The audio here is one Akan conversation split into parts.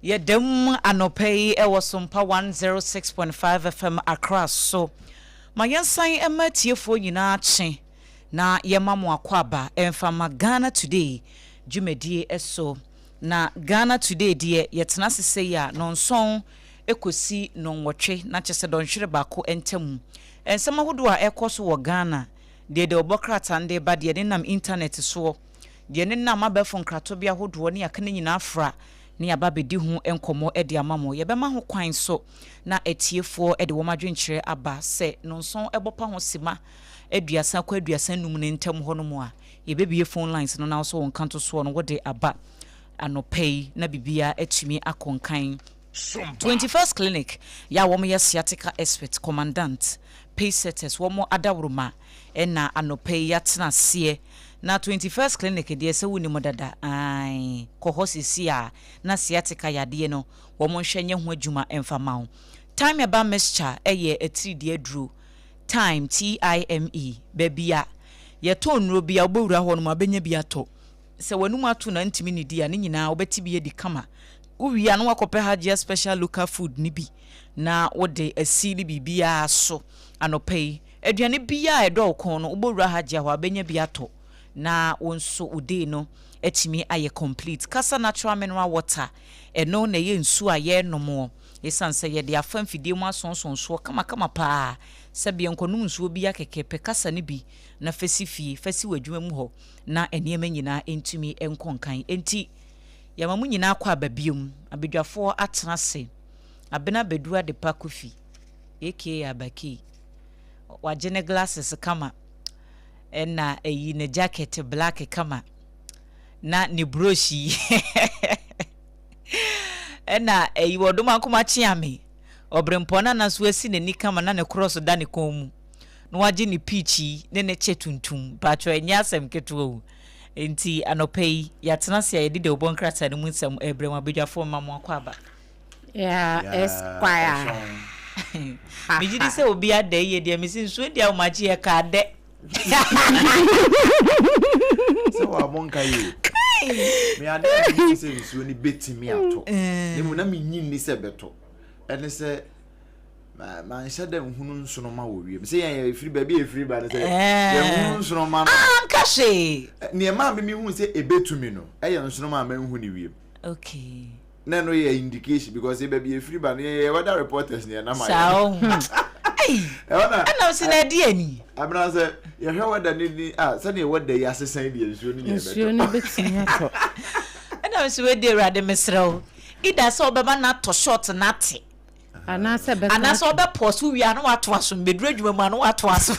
Yɛdam anɔpa yi wɔ Sompa 106.5 FM Accra so. Ma yɛnsan mma atiefoɔ nyinaa kye na yɛmma mo akwaaba mfa mma Ghana Today dwumadie so. Na Ghana Today deɛ yɛtena ase sei a, nnɔnsɔn kɔsi nnɔnwɔtwe, na kyerɛ sɛ dɔnhwere baako ntamu. Nsɛm ahodoɔ a ɛrekɔ so wɔ Ghana, deɛ deɛ wɔbɔ krataa no de reba, deɛ ɛnenam intanɛt soɔ, deɛ ɛnenam abɛɛfo nkratobea ahodoɔ ne aka no nyinaa fra ne yɛaba bɛdi ho nkɔmmɔ de ama mo. Yɛbɛma ho kwan nso na atiefoɔ de wɔn adwenkyerɛ aba sɛ nonson bɔ pa ho sima aduasa kɔ aduasa nnum no ntam hɔ nom a, yɛbɛbue phone lines no na wo nso wo nkantosoɔ no wode aba anɔpa yi na biribiara atumi akɔ nkan. Twenty First Clinic, yɛ a wɔyɛ sciatica expert, commandant, pace setters, wɔn adaworoma, Ɛna anɔpa yi yɛatena aseɛ na twenty first clinic deɛ sɛ wonni mu dada ae kɔ hɔ seesei a na sciatica yadeɛ no wɔn nhwɛ nyɛ ho adwuma mfa mma wo time ɛba mixture ɛyɛ atiridii aduro time TIME baabi a yɛtɔn nnuro bia wobɛwura hɔ nom a wobɛnya bi atɔ sɛ w'anum ato na ntumi nnidi a ne nyinaa wobɛte bi adi kama wowie a na wakɔpɛ Hajia special local food no bi na wode asi ne biribiara so anɔpa yi. Aduane biaa a ɛdɔ wo kɔn no wobɔ wura ha gya hɔ a wobɛnya bi atɔ na wo nso wo day no atumi ayɛ complete. Kasa natural mineral water, ɛno na ɛyɛ nsuo a yɛnomoɔ. Ɛsiane sɛ yɛde afa mfidie mu asonsɔn soɔ kama kama paa sɛbea nkɔnom nsuo biaa kɛkɛ, pɛ kasa no bi na fa si fie, fa si w'adwuma mu hɔ na nneɛma nyinaa ntumi nkɔ nkan. Enti yɛma mo nyinaa kɔ aba biom. Abadwafoɔ atena ase. Abena Badu Adepa Kofi aka Abakii. Wagye ne glasses kama na ayi ne jacket black kama na ne brush yi ɛna ayi wɔdoma nkoma kyeame ɔbrempɔ na na so asi n'ani kama na ne cross da ne kɔn mu na wagye ne peach yi ne ne kyɛ tuntum patro ɛnyɛ asɛm ketewa o nti anɔpa yi yɛatena se a yɛde dawubɔ nkrataa no mu nsɛm ɛbrɛ mu abadwafoɔ mma mo akɔ aba Yeah, Esquire. Megye di sɛ obi ada yie deɛ mesi nsuo deɛ awomakye yɛ ka adɛ. Sɛ wa mo nka yie. Me ade a menim sɛ nsuo no bɛtumi ato. Ne mu na menyi nni sɛ bɛto. Ɛne sɛ manhyɛ dɛ nhunu nsoroma wɔ wiem sɛ yɛn ɛfiri baabi a ɛfiri ba no sɛ yɛnhunu nsoroma no anka hwee nneɛma a memehu sɛ ɛbɛtumi no ɛyɛ nsoroma a manhu ne wiem okay na ɛno yɛ indication because yɛ baabi efiri ba no yɛ yɛ weather reporters na yɛ nam ayɛ. saa ɔho ɛhɔ na ɛnam si na ɛdi ani. abena sɛ yɛhwɛ weather ni ni a sɛdeɛ weather yi asesan deɛ nsuo no nyɛ bɛtɔ. nsuo no bɛtumi atɔ. ɛnam si wei di awurade mesrɛ o ida sɛ ɔbɛma no atɔ short na ate Anaasɛ ɛbɛsan ato. Anaasɛ ɔbɛpɔɔ so wie a na watoa so, mebɛduru adwuma mu a na watoa so.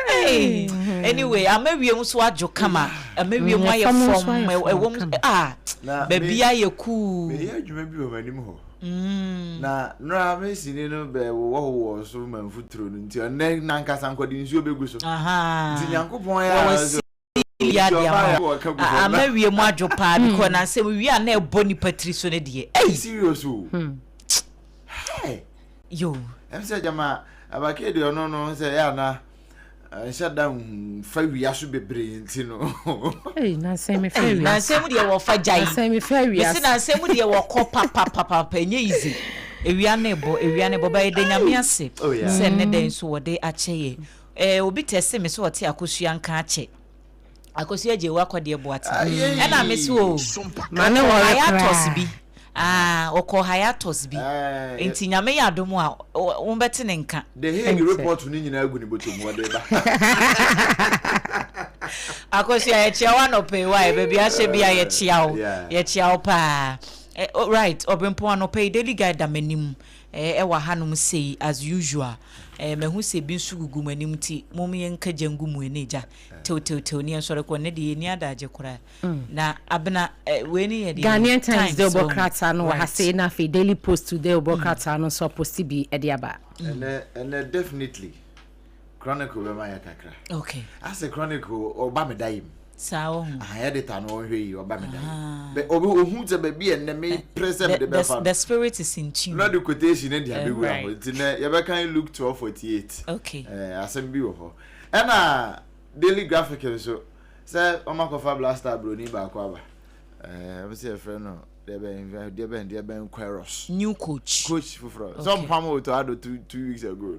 Hey, anyway, ama wiem so adwo kama, ama wiem mm, ayɛ fam, ɛwɔ mu, ah, baabi ayɛ kuu. Meyɛ adwuma bi wɔ m'anim hɔ. Mm. na nora mesini no bɛwowɔ wowɔ so ma mfuturo no nti ɔnɛ nankasa nkɔde nsuo bɛgu so nti nyankopɔn yɛ Ɔbɛyɛ biribi adeɛ ama wo a a m'awie mu adwo paa because na nsɛm wie a na ɛbɔ nipa tiri so no deɛ ɛyi. Serious o. Hmm. Hey. Yo. Ɛm sɛ gyama abakɛ deɛ ɔno no sɛ yɛ ana nhyɛ da nfa wia so bebree nti no. Ɛyi nansɛn mi fɛ wia. Nansɛn mu deɛ wɔfa gya yi. Nansɛn mi fɛ wia. Mesi nansɛn mu deɛ wɔkɔ papapapapa ɛnyɛ easy. Ewia ne bɔ ewia ne bɔ bɛyɛ de nyame ase oh, sɛ ne dɛn so wɔde akyɛ yɛ. Eh obi tɛste me sɛ ɔte Akosua nka akyɛ Akosua gyee wo akɔdeɛ Boaten ɛna me se oo Ma ne ɔkɔɔ wɔre hiatus koraa. bi Aah ɔkɔɔ hiatus bi Eh, Nti Nyame yɛ adom a wo wo bɛte ne nka The Hague Thanks, sir. report no nyinaa gu ne bɔtɔ mu ɔde ba. Akosua yɛkyea wo anɔpa yi wai baabi ahyɛ bia yɛkyea wo Yeah. yɛkyea wo paa Eh, oh, right Ɔbrempɔn anɔpa yi Daily Guide da m'anim Eh ɛwɔ ahanom sei as usual eh mahu sɛ bi nso gugu mo anim nti mom yɛnka gya ngu mo ani egya tewtewtew ne yɛnsɔre kɔ ne deɛ yɛni adagye koraa na abena eh, wei ne yɛ deɛ Ghanaian Times de ɔbɔ krataa no wɔ ha sei na afei Daily Post de ɔbɔ krataa no nso aposti bi de aba. Ɛnɛ ɛnɛ definitely Chronicle bɛma yɛ kakra. Okay. Ase Chronicle ɔba me da yim. Saa wɔ ho. Aha editor no ɔhwɛ yi ɔba me da yim. Ah. Bɛ obi ohun sɛ baabi a nnɛ me eh, pere sɛ me de bɛfa no. The spirit is in tune. Lord quotation ne de eh, abɛwura hɔ. Nti nɛ yɛbɛkan Luke twelve forty eight. Okay. Eh, asɛm bi wɔ hɔ. Ɛna Daily Graphic nso sɛ wɔn akɔfa Black Star broni baako aba. Eh, wɔn sɛ yɛfrɛ no deɛ bɛn deɛ bɛn deɛ bɛn Queiroz. New coach. Coach foforɔ. Sɛ ɔmpam o to ado two two weeks ago.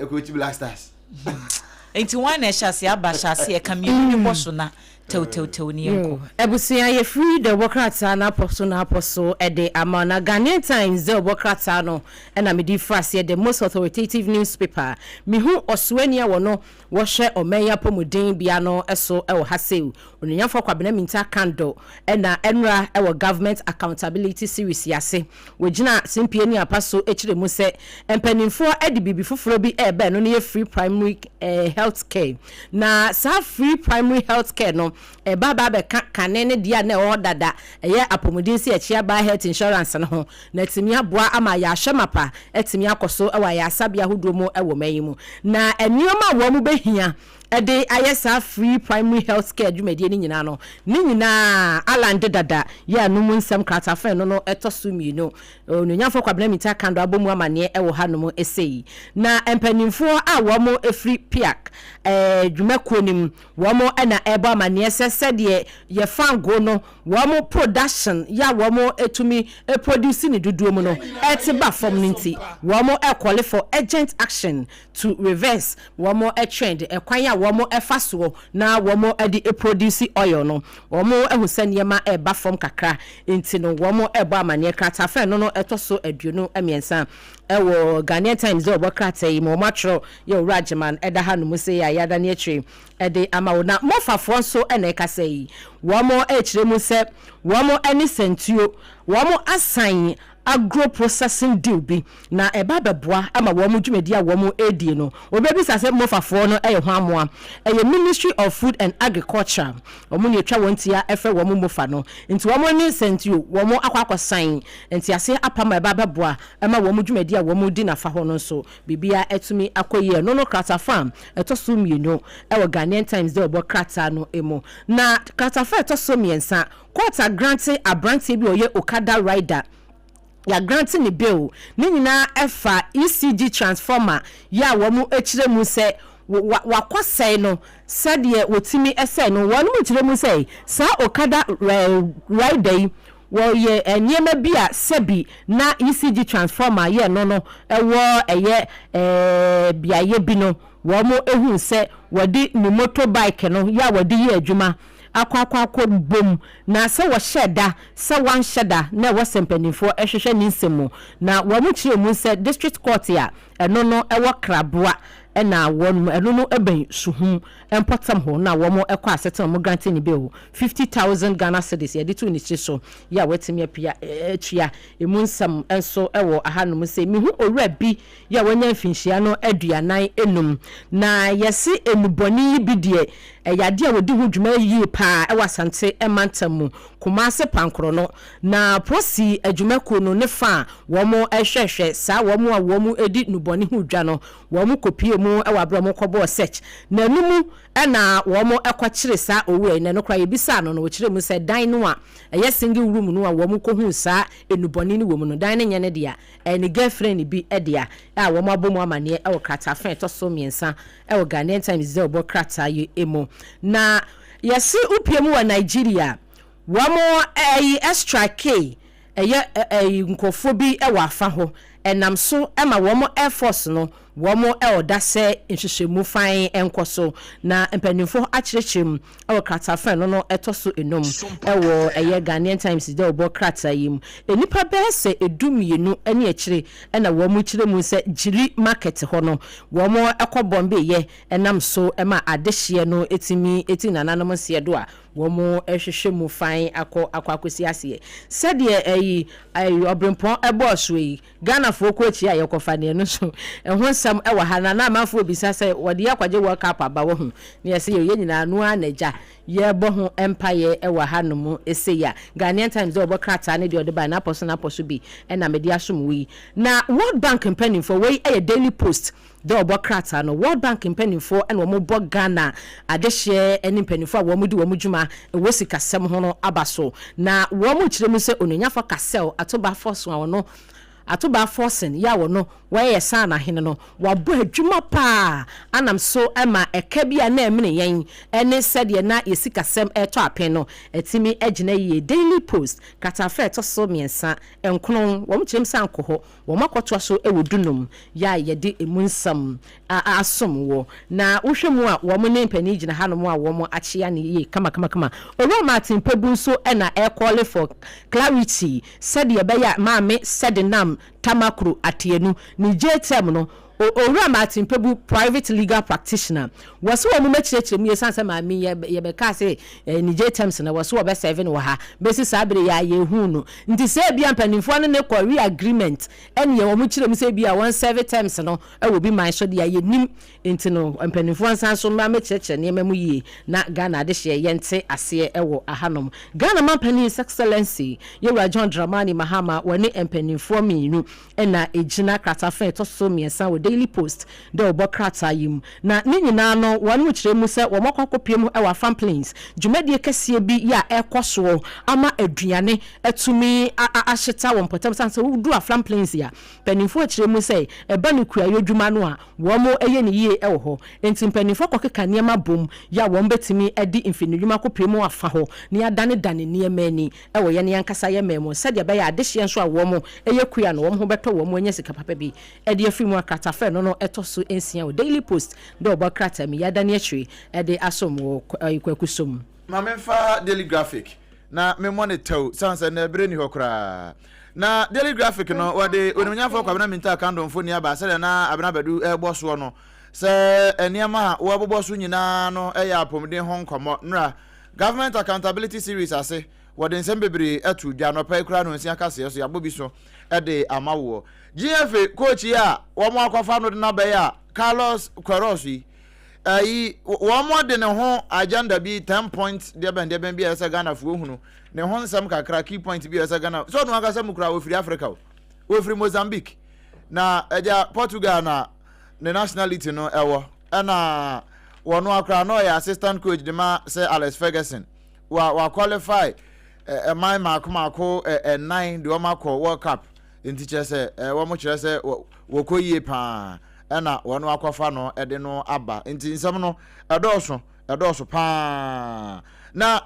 Ekuroti Black Stars. Nti wan na ɛhyɛ aseɛ aba hyɛ aseɛ ka mmienu no bɔ so na tɛwtɛwtɛw ne yɛnkɔ. Abusua yɛfiri dɛ wɔ krataa no apɔ so na apɔ so de ama na Ghanaian Times dɛ wɔ krataa no na me di fra seɛ the most authoritative news paper me hu ɔsoani a wɔ no wɔ hwɛ ɔman yi apɔmuden bea no so wɔ ha sei Onuonyamfoɔ Kwabena Mintah Kandor na ɛnora wɔ Government Accountability Series yi ase. Wɔgyinaa simpie ne apa so kyerɛ mu sɛ mpanimfoɔ de biribi foforɔ bi rebɛn no ne yɛ free primary eh, health care. Na saa free primary health care no ɛba aba abɛka kane ne deɛ a na ɛwɔ hɔ dada ɛyɛ apɔmuden sɛ yɛkye aba health insurance no ho na atumi aboa ama yɛahwɛ mapa atumi akɔ so wɔ ayɛasabea ahodoɔ mu wɔ man yi mu na nneɛma a wɔn bɛhia de ayɛ saa Free Primary Health Care dwumadie no nyinaa no, ne nyinaa Allan de dada yɛ ano mu nsɛm kratafen no no ɛtɔ so mmienu. Onuonyamfoɔ Kwabena Mintah Akandor abɔ mu amaneɛ wɔ hanom sei. Na mpaninfoɔ a wɔn firi PIAC dwumakuo no mu, wɔn na ɛrebɔ amaneɛ sɛ sɛdeɛ yɛ fangoo no wɔn production yɛ a wɔn tumi produce no dodoɔ mu no ɛte ba fam no nti, wɔn call for urgent action. to reverse wɔn trend, kwan a wɔn fa soɔ na wɔn de produce oil no, wɔn ahu sɛ nneɛma reba fam kakra, nti no wɔn rebɔ amaneɛ. Krataafrɛ no no ɛtɔ so aduonu mmiɛnsa wɔ Ghanaian Times deɛ wɔbɔ krataa yi mu, wɔn atwerɛ yɛ Owura Agyeman ɛda ha nom sei a yɛadane akyire de ama wo. Na Mofafoɔ nso na ɛka sɛ yi, wɔn rekyerɛ mu sɛ wɔn ne Santuo wɔn asan agro-processing deal bi na ɛba bɛboa ma wɔn dwumadi a wɔn redie no. Obi bɛbisa sɛ Mofafoɔ no yɛ hwan moa? Ɛyɛ Ministry of Food and Agriculture. Wɔn na ɛtwa wɔn ti a ɛfrɛ wɔn Mofa no. Nti wɔn ne Sɛntio wɔn akɔ akɔsan nteaseɛ apam a ɛba bɛboa ma wɔn dwumadi a wɔn redi no afa hɔ no nso. Biribiara atumi akɔ yie. Ɛno no kratafa a ɛtɔ so mmienu wɔ Ghanaian Times deɛ wɔbɔ krataa no mu. Na kratafa a ɛtɔ so mmiɛnsa Court agrante abranteɛ bi a ɔyɛ Okada rider, yɛagrante ne bail. Ne nyinaa ɛfa ECG transformer yi a wɔn kyerɛ mu sɛ wakɔsɛe no sɛdeɛ wɔtumi sɛe no. Wɔn kyerɛ mu sɛ saa Okada rider yi wɔyɛ nneɛma bi a sɛbi na ECG transformer yɛ no no wɔ ɛyɛ beaeɛ bi no wɔn hu sɛ wɔde ne motorbike no yɛ a wɔde yɛ adwuma akɔ akɔ akɔ bom na sɛ wɔhyɛɛ da sɛ wɔanhyɛ da na ɛwɔ sɛ mpaninfoɔ hwehwɛ ne nsɛm mu na wɔn kyerɛ mu sɛ district court a ɛno no ɛwɔ kraboa na wɔn ɛno no ɛbɛn suhum mpɔtam hɔ na wɔn ɛkɔ asetena wɔn grante ne bail 50,000 Ghana cedis yɛde to ne tiri so yɛ a wɔatumi apia atua emu nsɛm nso ɛwɔ ahanom sɛ mehu owura bi yi a wanya mfinhyia no aduanan anum. Na yɛse nnubɔne yi bi deɛ ɛyɛ adeɛ a wɔdi ho dwuma yie pa ara wɔ Asante mantam mu, Kumase Pankorɔ no. Na Prosi adwumakuo no ne fa a wɔhwɛhwɛ saa wɔn a wɔdi nnubɔne ho dwa no, wɔn kɔpie mu wɔ aberɛ a wɔn kɔbɔɔ search. Na no mu na wɔn kɔkyere saa owura yi. Na ɛno koraa yɛbisaa no no ɔkyerɛ mu sɛ dan no a ɛyɛ single room no a wɔn kɔhuu saa nnubɔne no wɔ mu no dan no nyɛ ne dea. ne girlfriend bi dea a wɔabɔ mu amanneɛ wɔ krataa fã a ɛtɔ so mmiɛnsa wɔ Ghanaian Times dɛ ɔbɔ krataa yi mu. Na yɛse wopue mu wɔ Nigeria a, wɔn ɛyi strikee ɛyɛ ɛyi nkurɔfoɔ bi wɔ afa hɔ, ɛnam so ma wɔn air force no Wɔn ɔdasɛ nhwehwɛmu fann nkɔ so, na mpanyimfo akyerɛkyerɛ mu wɔ krataafã no no ɛtɔ so enum wɔ ɛyɛ Ghanaian Times dawubɔ krataa yi mu. Nnipa bɛyɛ sɛ du mmienu ne akyire na wɔn kyerɛ mu sɛ Gyiri market hɔ no wɔn kɔ bɔmbeeyɛ nam so ma adehyeɛ no tumi ti nananom nseɛ do a wɔn hwehwɛ mu fann akɔ akɔ akɔsi aseɛ sɛdeɛ ɛyi ɔbrempɔn bɔɔsoɔ yi Ghanafoɔ kɔ akyia a yɛkɔfa deɛ no nso ɛho nsɛm wɔ ha na na amanfoɔ rebisa sɛ wɔde yɛn akɔgye World Cup aba wahu ne yɛse yɛn nyinaa no ara na agya yɛrebɔ ho mpaeɛ wɔ ha nom sei a Ghanaian Times deɛ wɔbɔ krataa ne deɛ wɔde baeɛ no apɔso na apɔso bi na mede asom wo yi na World Bank mpanimfoɔ wei yɛ Daily Post Dɛ ɔbɔ krataa no, World Bank mpanyimfoɔ na wɔbɔ Ghana adehyeɛ ne mpanyimfoɔ a wɔdi wɔn dwuma wɔ sikasɛm ho no aba so, na wɔkyerɛ mu sɛ Onuanyafoɔ Cassel Ato Bafforson a ɔno Ato Bafforson yɛ a ɔno wɔyɛ Saana Hene no, wabɔ adwuma pa ara anam so ma ɛka bi a na ɛmene yɛn ne sɛdeɛ na yɛn sikasɛm retɔ apen no atumi agyina yie. Daily Post, kratafa a ɛtɔ so mmiɛnsa, Nkron, wɔkyerɛ mu sɛ ankɔ hɔ. Wɔakɔtoa so wɔ dunum yi a yɛde emu nsɛm asom wo, na wohwɛ mu a wɔn ne mpanin gyina hanom a wɔn akyea no yie kamakamakama. Owura Martin Pebu nso na ɛrekɔɔle for clarity sɛdeɛ ɛbɛyɛ a Maame Sɛdenam Tamakro Ateanu ne J-Term no Owura Martin Pebu, private legal practitioner, wɔse wɔn bɛkyerɛkyerɛ mu yie esiane sɛ maame yi yɛbɛkaa sɛ anigye terms no wɔse wɔbɛ serve no wɔ ha bɛsi saa bere yi a yɛhuu no nti sɛ ebia mpanimfoɔ no ne kɔ re agreement ɛneɛ wɔn kyerɛ mu sɛ ebia wɔn serve terms no wɔ bi man so deɛ yɛnim nti no mpanimfoɔ nsan so mma mɛkyerɛkyerɛ nneɛma mu yie na Ghana adehyeɛ yɛnte aseɛ ɛwɔ ahanom Ghana mampanin His Excellency Yɛwura John Dramani Mahama wɔne mpanimfoɔ mmienu na egyina kratafa a ɛtɔ so mmiɛnsa wɔ Daily Post de rebɔ krataa yi mu. Na ne nyinaa no, wɔkyerɛ mu sɛ wɔakɔ akɔpue mu wɔ Afan Plains dwumadie kɛseɛ bi yɛ a ɛrekɔ soɔ ama aduane atumi ahyeta wɔn mpɔtam. Sane sɛ wodu Afan Plains a, mpanimfoɔ kyerɛ mu sɛ ɛba no kuayɔ dwuma no a, wɔyɛ no yie wɔ hɔ. Enti mpanimfoɔ kɔkeka nneɛma bom yɛ a wɔbɛtumi de mfidinedwuma akɔpue mu afa hɔ na yɛadanedane nneɛma ani. wɔ yɛn ankasa yɛn man mu sɛdeɛ ɛbɛyɛ a adehyeɛ nso a wɔn yɛ kua no wɔn ho bɛtɔ wɔn anya sika papa bi de afiri mu a kratafrɛ no no ɛtɔ so nsia wɔ daily post de ɔbɔ krataa mu yi adane akyiri de asom wɔ kwaku so mu. Ma memfa daily graphic na memmɔ no tɛw sane sɛ nnɛ berɛ nni hɔ koraa na daily graphic no wɔde onimnyamfoɔ kwabena mintaa kando mfoni aba sɛdeɛ na abena badu ɛbɔ soɔ no sɛ nneɛma a wɔbobɔ so nyinaa no yɛ apɔmuden ho nkɔmmɔ nnora Government Accountability Series ase, wɔde nsɛm bebree ato dwa. Anɔpa yi koraa no nsi akaseɛ so, yɛabɔ bi so de ama woɔ. Gyeefe coach yi a wɔakɔfa no de no abɛyɛ a Carlos Queiroz yi, ayi, wɔde ne ho agenda bi, ten point deɛbɛn deɛbɛn bi a ɛyɛ sɛ Ghanafoɔ hunu, ne ho nsɛm kakra, key point bi a ɛyɛ sɛ Ghana, sɛ ɔno ankasa mu koraa, ɔfiri Africa o, ɔfiri Mozambique, na agya Portugal na ne nationality no wɔ ɛna wɔno akora na ɔyɛ assistant coach de ma sɛ Alex Ferguson wa wa qualify ɛman eh, mako mako ɛnan eh, de wɔn akɔ World Cup nti kyerɛ sɛ eh, wɔn kyerɛ sɛ wɔkɔ yie paa ɛna wɔn akɔfa no de no aba nti nsɛm no ɛdɔɔso ɛdɔɔso paa na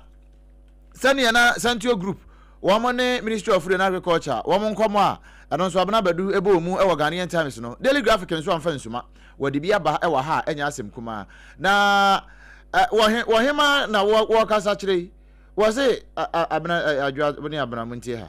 Sɛdeɛ na Santio Group wɔn ne Ministry of Food and Agriculture wɔn nkɔmmɔ a ɛno nso Abena Badu bɔɔ mu wɔ Ghanaian Times no, Daily Graphic nso amfa nsuma. Wɔde bi aba wɔ ha a ɛnyɛ asɛm kumaa. Na wɔ he, wɔ hema na wɔ, wɔkasa kyerɛ yi? Wɔse, Abena, Adwoa ne Abena, montie ha.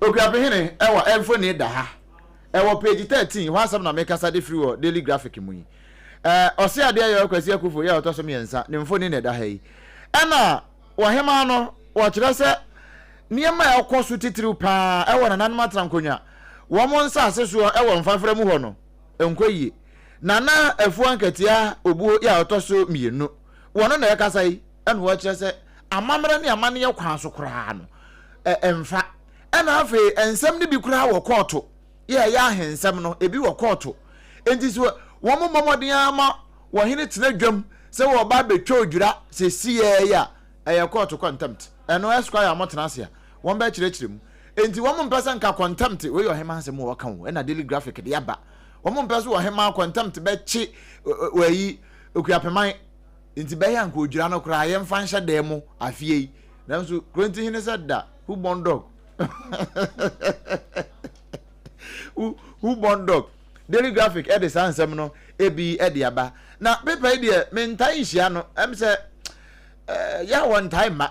Okuapɛ Hene wɔ mfoni da ha wɔ page thirteen hɔ asɛm na mekasa de firi wɔ Daily Graphic mu yi. Ɔseadeɛ Yɔɔ Kwasi Akuffo yɛ ɔtɔ so mmiɛnsa ne mfoni na ɛda ha yi. Ɛna wɔ hemaa no wɔkyerɛ sɛ nneɛma a ɛkɔ so titiriw pa ara wɔ nananom atenankonnwa wɔn nsase soɔ wɔ Mfafra mu hɔ no nkɔ yie. Nana Afuo Ankatia Obuo yɛ ɔtɔ so mmienu wɔn na ɛkasa yi. ɛna wɔkyerɛ sɛ amammerɛ ne amanneɛ kwan so koraa no ɛmfa ɛna afei nsɛm no bi koraa wɔ kɔɔto yɛ ɛyɛ ahensɛm no ebi wɔ kɔɔto nti so wɔn mmɔ mmɔden ara ma wɔhene tena dwam sɛ wɔba abɛtwa odwira sɛ siyɛɛ yi a ɛyɛ kɔɔto contempt ɛno ɛsquire a wɔtena ase a wɔn bɛkyerɛkyerɛ mu nti wɔn mpɛ sɛ nka contempt wei yɛ ɔhemaa asɛm a wɔka wo ɛna daily graphic de aba wɔn mpɛ so ɔhemaa contempt bɛkye wɔyi okuapɛman Enti bɛyɛ anka odwira no koraa yɛmfa nhyɛ dan mu afie yi nanso Kronti hene sɛ da who born dog who, who born dog Daily Graphic ɛde saa nsɛm no ebi ɛde aba na paper yi deɛ mentae nhyia no ɛm sɛ eh, yɛ a wɔntae mma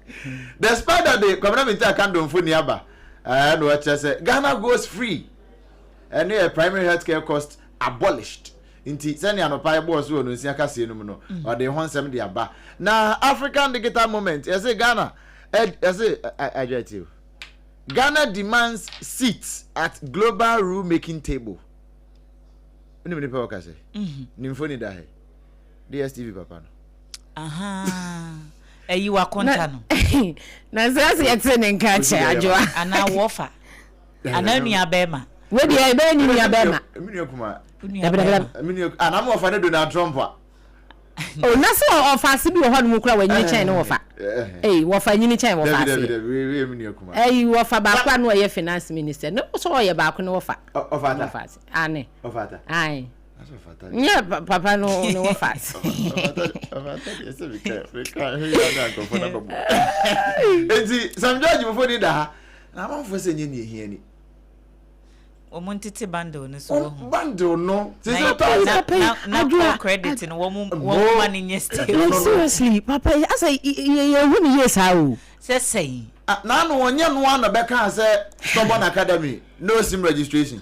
the spider de kwamina minti aka ndomfo ni aba ɛɛ na ɔkyerɛ sɛ ghana goes free ɛne yɛ primary health care cost abolished nti sɛnea anɔpa ɛbɔɔ so wɔ no nsia kaseɛ no mu no mm. ɔde ho nsɛm de aba na african digital moment yɛsɛ ghana yɛsɛ adwa ti o ghana demands seats at global rule making table wonim nipa wɔka sɛ nimfo ni da hɛ DSTV papa no. Ahaa. Ayi wakonta no. Na sɛ sɛ yɛte ne nka kyɛ adwoa. Ana wɔfa. Ana nua bɛma. Wo deɛ ɛbɛyɛ ne nua bɛma. Ɛmi nua kuma. Nua bɛma. Ɛmi nua. Ah na mo wɔfa ne Donald Trump a. O oh, na sɛ wɔfa ase bi wɔ hɔ nom kura wɔnyini kyɛn ne wɔfa. Ɛyi wɔfa nyini kyɛn wɔfa ase. Dɛbi dɛbi dɛbi ɛmi nua kuma. Ɛyi wɔfa baako a no ɔyɛ finance minister ne sɛ ɔyɛ baako ne wɔfa. Ɔfa ata. Ɔfa ase. Ane. Ɔfa ata. Ayi. nyɛ papa no ne wɔfa nti sam george mofo ni da ha na amanfo sɛ nyɛ ne ɛhia ni wɔn ntete bundle no so wɔ ho bundle no sɛ sɛ ɔtɔ ayɛ papa yi adwoa credit no wɔn wɔn ma ne nyɛ stay no seriously papa yi asɛ yɛ hu ne yie saa o sɛ sɛn n'ano wɔnyɛ noa na bɛka sɛ stubborn academy no sim registration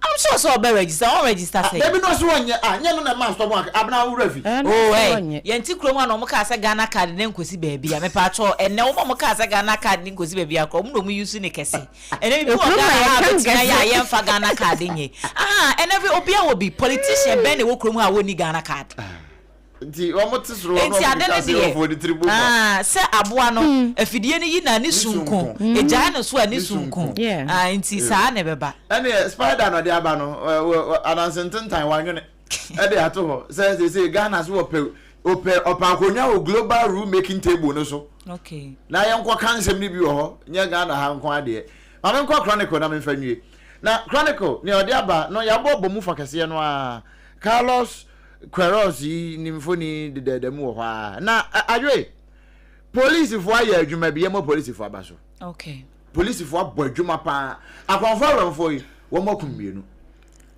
I'm sure sɛ ɔbɛ register ɔn register Ah, sɛ. baby no ɔse ɔnyɛ, ah, nyɛ no na ɛmaa stubborn ak, Abena wo werɛ afi. Ɛɛ, na Oh ɔse ɛɛ, ɔnyɛ. yɛn te kurom a na ɔmo kaa sɛ Ghana card ne nkosi baabi a, mepaatwɔɔ, ɛnnɛ wɔn a ɔmo kaa sɛ Ghana card ne nkosi baabi a koraa ɔmo na ɔmo use ne kɛse, ɛnnɛ bibi wɔ Kurom a Ghana ha a yɛka ɔbɛtumi ayɛ a nkɛse. yɛnfa Ghana card nyɛ, ahaa, ɛnnɛ afei obiaa wɔ bi, politician bɛn na ɛwɔ kurom ha a wɔnni Ghana card? Ah. Nti wɔte soro hɔ na wɔde ade no hyɛ deɛ asefoɔ ne tiri mu ma. ah, sɛ aboa no afidie no yi na ne sunko sunko. ɛgyae no so a ne Ne sunko sunko. Yeah. ah, nti Eh. saa na ɛbɛba Ɛneɛ spider na ɔde aba no ɛ, wɔ- wɔ- ananse ntentan wanwene ɛde ato hɔ sɛ sese Ghana so wɔpɛ ɔpɛ ɔpɛ akonnwa wɔ global rule making table no so okay. na yɛnkɔ ka nsɛm no bi wɔ hɔ nyɛ Ghana ha nko adeɛ ma menkɔ chronicle na memfa nwie na chronicle nea ɔde aba no yɛabɔ bɔ mu fa kɛseɛ no a Carlos Queiroz yi ne mfoni dedaada mu wɔ hɔ ara. Na Adwoe, polisifo ayɛ adwuma bi, yɛmmɔ polisifo aba so. Okay. Polisifo abɔ adwuma paa. Akɔnfo awɛmfo yi, wɔn akum mmienu.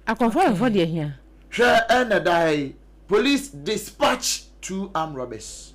Akɔnfo awɛmfo deɛ hia. Hwɛ ɛna da ha yi, police dispatch two armed robbers.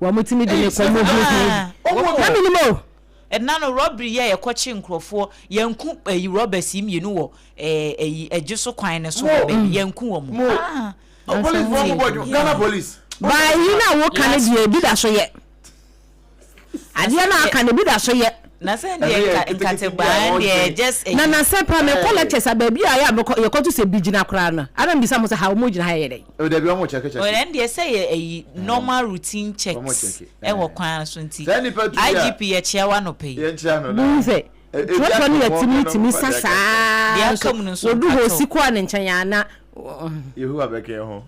Wɔtumi de no kɔ mu huhuuhu. Na menim o. Ɛna no rɔbri yɛ yɛkɔ kye nkorɔfoɔ yɛnku ɛyi rɔbɛs yi mmienu wɔ ɛɛ ɛyi ɛgye so kwan no so hɔ baabi yɛnku wɔn ah. Ba yi na wo ka no deɛ ebi da so yɛ. Adeɛ na aka no ebi da so yɛ. Na sɛ deɛ nkate baa deɛ just ɛyi. Na na sɛ pa mekɔ lectures a baabi a yɛ a mekɔ yɛkɔ to sɛ bi gyina koraa no ara mbisa mo sɛ ha wɔn gyina ha yɛ dɛ. Oh dabi ɔmo check check. Oh ɛno deɛ sɛ yɛ ɛyi normal routine checks ɛwɔ kwan no so nti IGP yɛ kyea wo anɔpa yi. Bohu sɛ trɔtrɔ no yɛ timi timi sa saa nso wɔdu hɔ osi kɔɔ ne nkyɛn a na. Yehowa bɛka yɛn ho.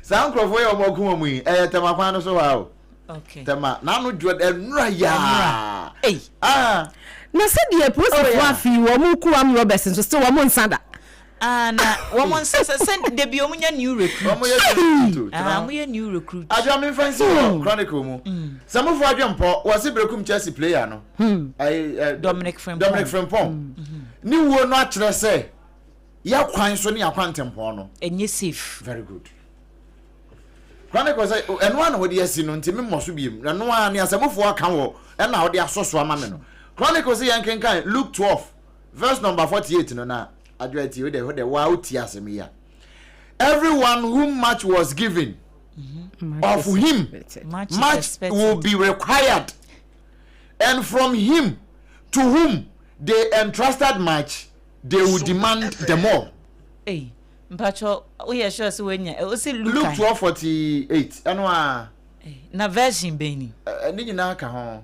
Saa nkurɔfoɔ yɛ wɔn ɔko wɔn yi ɛyɛ tɛma kwan no so hɔ a o. Okay. Tɛma n'ano dwo ɛnura yaa. Ɛyi. Ah. Na sɛdeɛ polisifoɔ afei wɔn kuo amrɔbɛs nso sɛ wɔn nsa da. Ah na wɔn nsa sɛ sɛ dabi wɔn nyɛ new recruit. Wɔn yɛ new recruit o. Ah wɔn yɛ new recruit. Adwa mi nfa nsi wɔ hmm. chronicle mu. Hmm. Sɛ mo fo adwe mpɔ wɔ se brekum Chelsea player no. Hmm. Dominic Frimpong. Dominic Frimpong. Ni wuo no akyerɛ sɛ yɛ kwan so ne akwan tempɔn no. Enye safe. Very good. Chronicle sɛ ɛno a na wɔde asi no nti memmɔ so biem ɛno a ne asɛmufo aka wɔ ɛna wɔde asɔ so ama me no Chronicle sɛ yɛn kenkan Luke twelve verse number forty eight no na adwo ati o de ho de wa o ti asem yi a everyone whom much was given mm-hmm. of him much, much will be required and from him to whom they entrusted much they will demand the more. Hey. mpatsɔ woyɛ sure sɛ woanya ɔsi luka luke twelve forty eight ɛno a na version bɛn ni ne nyinaa ka ho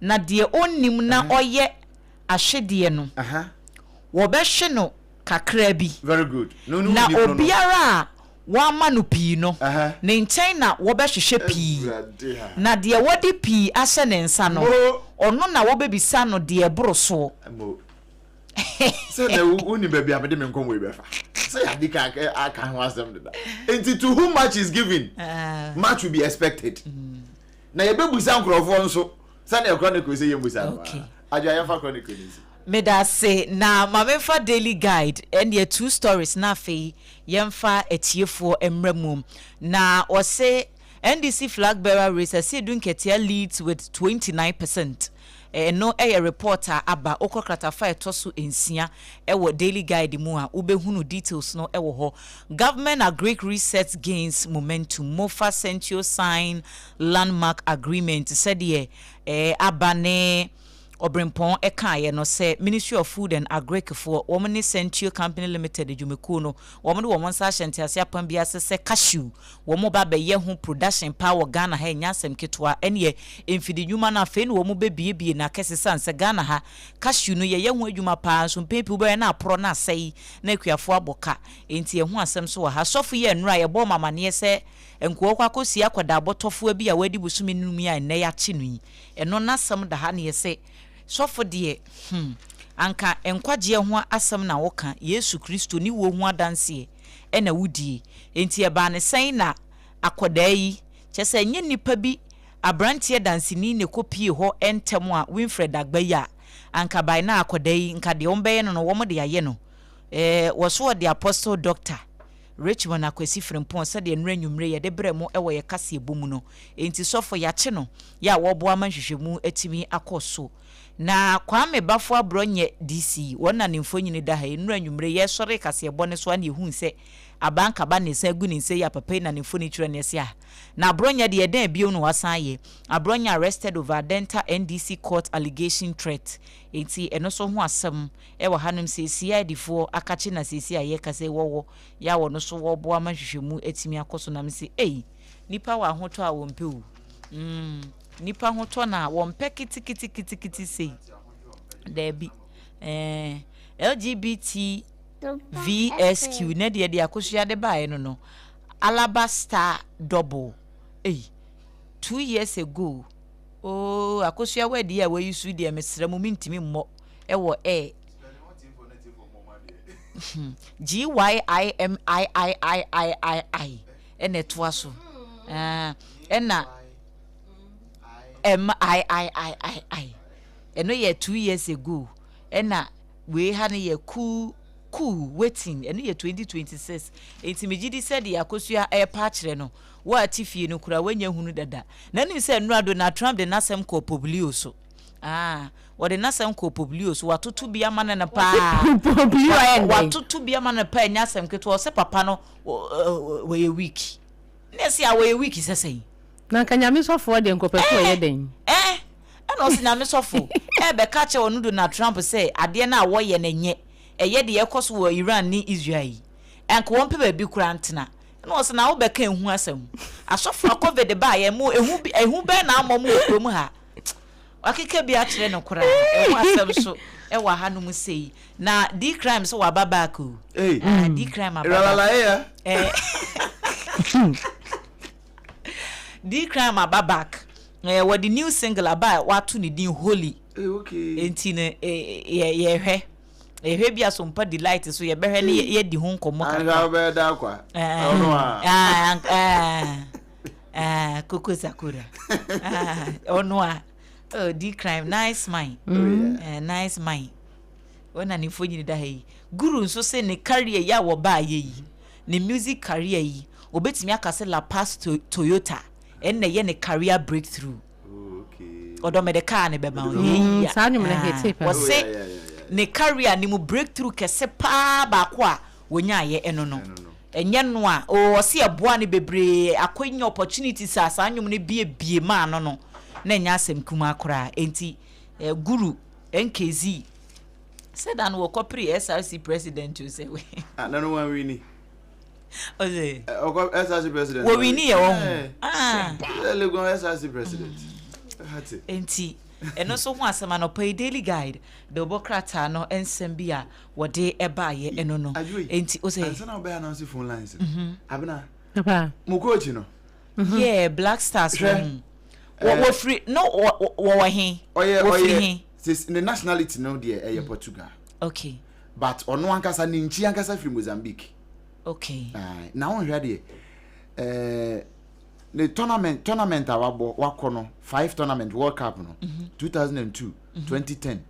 na deɛ ɔnnim na ɔyɛ ahwedeɛ no, wɔbɛhwe no kakra bi, na obiara a wɔama no pii no, ne nkyɛn na wɔbɛhwehwɛ pii, na deɛ wɔde pii ahyɛ ne nsa no, ɔno na wɔbɛbisa no deɛ ɛboro soɔ. sɛ na wonim baabi a mede me nkɔmmɔ yi bɛfa sɛ yɛade ka aka ho asɛm deda nti to whom much is given ah. much will be expected mm. na yɛbɛbusa nkurɔfoɔ nso sɛdeɛ Chronicle sɛ yɛmmusa no ara. Adwoa, yɛmfa Chronicle no nsi. Medase, na ma memfa Daily Guide ɛnneɛ two stories na afei yɛmfa atiefoɔ mmra mu. Na wɔse, NDC flag bearer race, Asiedu Nketiah leads with 29 percent. Ɛno yɛ report a aba. Wokɔ kratafa a ɛtɔ so nsia wɔ Daily Guide mu a, wobɛhunu details no wɔ hɔ. Government Agric Research Gains Momentum, Mofa Sentio Sign Landmark Agreement, sɛdeɛ aba ne Ɔberempɔn kaeɛ no, sɛ Ministry of Food and Agric foɔ, wɔn ne Sentio Company Limited adwumakuo no, wɔde wɔn nsa ahyɛ ntease apam bi ase sɛ cashew Wɔn ba bɛyɛ ho production paa wɔ Ghana ha ɛnyɛ asɛm ketewa ɛneɛ mfidi nwuma no afei na wɔn bɛ bie bie no akɛse sane sɛ Ghana ha cashew no yɛyɛ ho adwuma paa nso mpɛn pii wobɛyɛ na aporɔ na asɛe na akuafoɔ abɔ ka ɛnti ɛho asɛm so wɔ ha sɔfo yi ɛnora yɛbɔɔ mo amaneɛ sɛ nkoa kɔ akɔ sie akwadaa bɔtɔfoa bi a wadi bosome num yi a ɛnnɛ yɛakye no yi ɛno nasɛm da ha na yɛsɛ sɔfo deɛ hmm anka nkwagyeɛ ho asɛm na wo ka Yesu Kristo ne wuo ho adanseɛ. na wodie. Enti ɛbaa no sɛn na akwadaa yi, kyerɛ sɛ ɛnyɛ nnipa bi aberanteɛ danseni na ɛkɔpuee hɔ ntɛm a Winfred Agba yi a anka by now akwadaa yi nka deɛ wɔbɛyɛ no no wɔde ayɛ no eh, wɔso ɔde Apostle Doctor Richmond Akwasi Frimpong sɛdeɛ nnora anwummere yɛde brɛ mo wɔ yɛ kaseɛbɔ mu no. Enti sɔfo yɛakye no, yɛ a wɔreboa ma nhwehwɛmu atumi akɔ so. Na Kwame Bafo abrɔ nyɛ DC wɔn na ne mfonyini da ha yi, nnora anwummere yɛsɔree kaseɛbɔ no so a na yɛhuu sɛ Aban Kaba na ɛsan agu ne nsa yi a papa yi na ne mfoni kyerɛ no ɛse ah na abrɔ nyɛ deɛ dɛn bio na wasan ayɛ abrɔ nyɛ arrested over Adenta NDC court allegation threat enti ɛno nso ho asɛm wɔ hanom sɛ CID foɔ akakye na seesei a yɛrekasa yi wɔwɔ yɛ a wɔno so wɔreboa ma nhwehwɛmu atumi akɔ so na mese ei nnipa wɔ ahotɔ a wɔmpɛ o mm. Nnipa ho tɔ no a, wɔmpɛ kitikitikitikiti sei. Daabi. Ɛɛ, LGBTVSQ, na deɛ de akosua de baeɛ no no, Alaba Star Double. Ei, two years ago. Oh, akosua wɛdi a wayi so deɛ mesrɛ mo mentumi mmɔ ɛwɔ air. GYIMIIIIII ɛna ɛtoa so. Ɛna. Ɛm I I I I I ɛno yɛ two years ago ɛna wei ha no yɛ cool cool waiting ɛno yɛ twenty twenty six nti megye di sɛ deɛ akosua ɛrepa akyerɛ no wɔate fie no koraa wɔnyɛ hunu dada na nim sɛ nnura Donald Trump de n'asɛm kɔɔ poblio so ah wɔde n'asɛm kɔɔ poblio so watoto bi ama no no paa watoto bi ama no paa ɛnyɛ asɛm ketewa ɔsɛ papa no wɔyɛ weak. Na ɛsɛ a wɔyɛ week sɛ sɛn. Na anka nyame sɔfoɔ deɛ nkɔpɛfoɔ ɛyɛ dɛn. Ɛɛ ɛɛ ɛna ɔsi nyame sɔfo ɛɛbɛka akyɛ ɔno Donald Trump sɛ adeɛ no a wɔyɛ no ɛnyɛ ɛyɛ deɛ ɛkɔ so wɔ Iran ne Israel yi anka wɔn pɛ baabi koraa ntena ɛna ɔsi na wobɛka ehu asɛm asɔfo a covid baa yɛ mo ehu ehu bɛn na ama wɔn wɔ kurom ha. wakeka bi akyerɛ no koraa ɛho asɛm so ɛwɔ ha no mu sei na di crime so waba back o hey. ah, di crime aba back eh. di crime aba back eh, wɔde new single aba a wato ne din holy eh, okay. nti no eh, yɛhwɛ eh, ehwɛ bi aso mpa delight so yɛbɛhwɛ ne yɛdi ho nkɔmmɔ kakra. anka wobɛyɛ da akwa. ɛɛ ɛɛ. ah, coco sakura ah, ɔno a oh, di crime nice mind oh, mm. eh, nice mind ɔna ne mfo nyini da ha yi guru nso se ne career yi a wɔbaayɛ yi ne music career yi obetumi aka sɛ la past to toyota ɛnna ɛyɛ ne career breakthrough ɔdɔ mede kaa ne bɛma ɔyɛ saa nnwom no hete pɛ ɔse ne career ne mu breakthrough kɛse paa baako a wɔnyaeɛ ɛno no ɛnyɛ no a oo ɔse ɛboaa no bebree akwanya opportunities a saa nnwom no bie bie maa no no na ɛnyɛ asɛm kumaa koraa enti eh, guru nkz sɛ da no wɔkɔ pre SRC president o sɛ wei ah, na no wanwini ɔse ɔkɔ eh, SRC president wɔwini yɛ wɔ ho eh, ah. Legon SRC president mm. enti ɛno nso ho asɛm anɔpa yi daily guide de wobɔ krataa no nsɛm bi a wɔde baeɛ no no nti o sɛ. ansana wobɛ announce phone lines no mhm. abena mo coach no yɛ black stars wɔ ho eh. wɔfiri no wɔwɔ he wɔfiri he ne nationality no deɛ ɛyɛ portugal okay but ɔno ankasa ne nkyi ankasa firi mozambique okay eh, na wonhwɛ deɛ eh, ne tournament tournament a wabɔ wakɔ no five tournament world cup no 2002 2010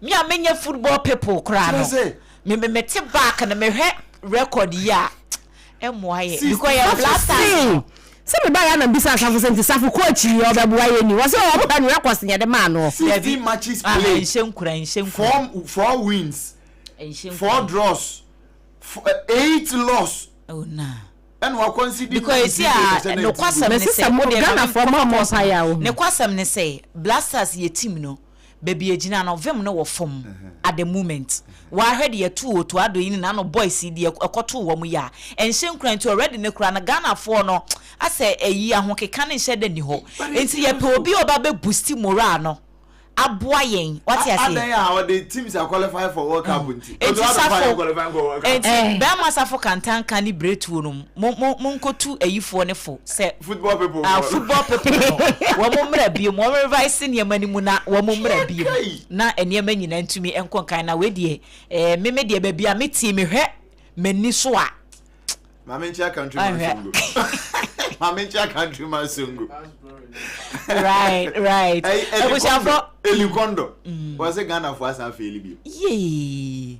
Me a menyɛ football people koraa no me me mete back no mehwɛ record yi a ɛmmoa yɛ because yɛ blasters no. sɛ meba yɛ anam bisa asafo sɛ nti safo kɔ akyiri yɛ ɔbɛboa yɛ ni wɔ sɛ wɔn hwɛ no records nyɛ de maa no. Sixteen matches played nhyɛ nkura nhyɛ nkura four four wins four draws eight loss oh na ɛna wakɔ nsi di because esi a nokwasɛm ne sɛ mo de na mi nkɔ pɔs ne kwasɛm ne sɛ blasters yɛ team no. Baby egyina no vem no wɔ fam at the moment waa hwɛ deɛ ɛtoo Otuado yi ne nano boys yi deɛ ɛkɔtoo wɔn yi a ɛnhyɛ nkuran nti already no koraa no Ghana foɔ no asɛ ɛyi ahokeka no nhyɛ da nni hɔ nti yɛpɛ obi a ɔba bɛ boosti morale no aboa yɛn wate aseɛ Adɛn a ɔde teams a qualify for world cup nti Enti Otuado fa safo yɛn qualify nkɔ world cup enti bɛɛma safo kantanka ne biretuo nom. Mo mo monkotu ayifoɔ no fo sɛ Football people ah for. football people no wɔn mmra biom wɔn revise nneɛma no mu na wɔn mmra Kyɛ biom kai. na nneɛma nyinaa ntumi nkɔ nkan na wei deɛ ɛɛ me me deɛ baabi a me tie mehwɛ m'ani so a Maame nkyea country man Ahwɛ. songo. Maame nkyea country man songo. right right Ɛyi, Eli abusuafo Kondo. Eli Kondo. Wɔse Ghana fo asan faili bio. yee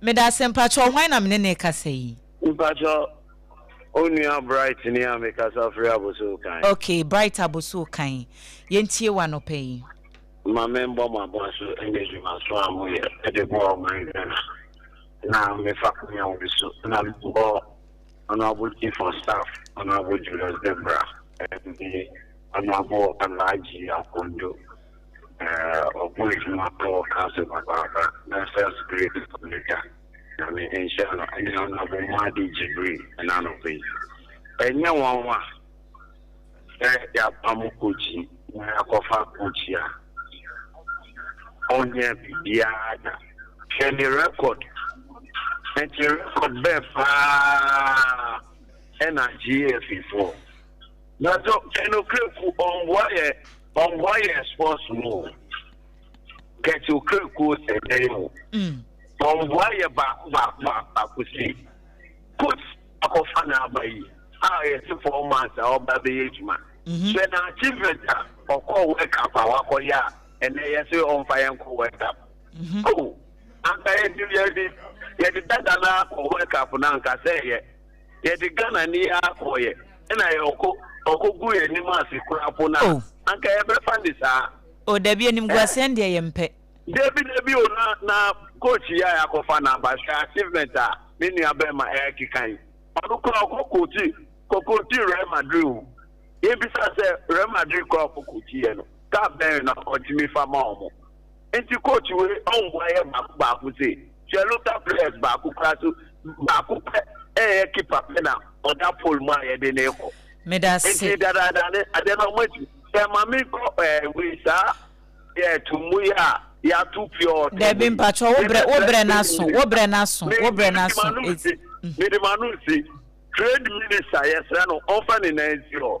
Meda ase, mpakyɛw hwan na me ne no rekasa yi? Mpakyɛw Onua Bright ni a mekasa firi Abossey Kan. Ok, Bright Abossey Kan, yɛntie wo anɔpa yi. Ma me mbɔ mo abɔso ɛne adwumasoɔ a mo yɛ ɛde boa ɔman Ghana na me fa kwan a wei so na me bɔ Honourable Chief of Staff Honourable Julius Debrah ɛne Honourable Alhaji Akonjo Na ɔbɔ edwuma wɔ council papaapa na first grade wɔ ne da. Nyame nhyira no ɛne honourable Mmadi Gyibri ɛna anɔpa yi. Ɛnyɛ nwanwa sɛ yɛapam Kochi na yɛakɔfa Kochi a ɔnyɛ biribiara da. Hwɛ ne record. Nti record bɛɛ paa ɛna GAFfoɔ. Nanso ɛnokorɛ ku ɔmboa yɛ Ɔmboa yɛn sports mu o. Kɛkye Okerekuo sɛ dɛn o. Ɔmboa yɛ baako baako baako baako si. Coach akɔfa n'aba yi a yɛse four months a ɔba bɛyɛ adwuma. Hwɛ n'achievement a ɔkɔɔ World Cup a wakɔyɛ a ɛnɛ yɛse ɔmfa yɛn nkɔ World Cup. Oh! Anka yɛde yɛde yɛde dada no ara kɔ World Cup no anka sɛ ɛyɛ. yɛde Ghana ni ara kɔeɛ ɛna yɛkɔ ɔkɔ gu yɛn anim ase koraa po no a Oh. anka yɛbɛfa ne saa. Oh dabi animguaseɛ no deɛ yɛmpɛ. Dabi dabi o na na coach yi a yɛakɔfa no aba hwɛ achievement a me nua bɛrima ɛrekeka yi ɔno koraa ɔkɔ coachi kɔ coachi Real Madrid o yɛbisa sɛ Real Madrid koraa ɔkɔ coachiiɛ no cup bɛn na ɔtumi fa ma wɔn. Enti coach wei ɔmboa yɛ baako baako sei hwɛ Luther players baako koraa so baako pɛ ɛyɛ keeper pɛ na ɔda pole mu a yɛde no rekɔ Medase. enti dadaada ne adeɛ no ɔmo atumi sɛ ma me nkɔ ɛɛ wei saa yɛ to mu yi a yɛato pure water mu Dabi yi mpakyɛw wo brɛ wo yɛbɛbrɛ brɛ trade n'aso wo brɛ minister n'aso me wo brɛ mede n'aso m'ano esi esi mede m'ano esi trade minister yɛsrɛ no ɔmfa ne nan nsi hɔ.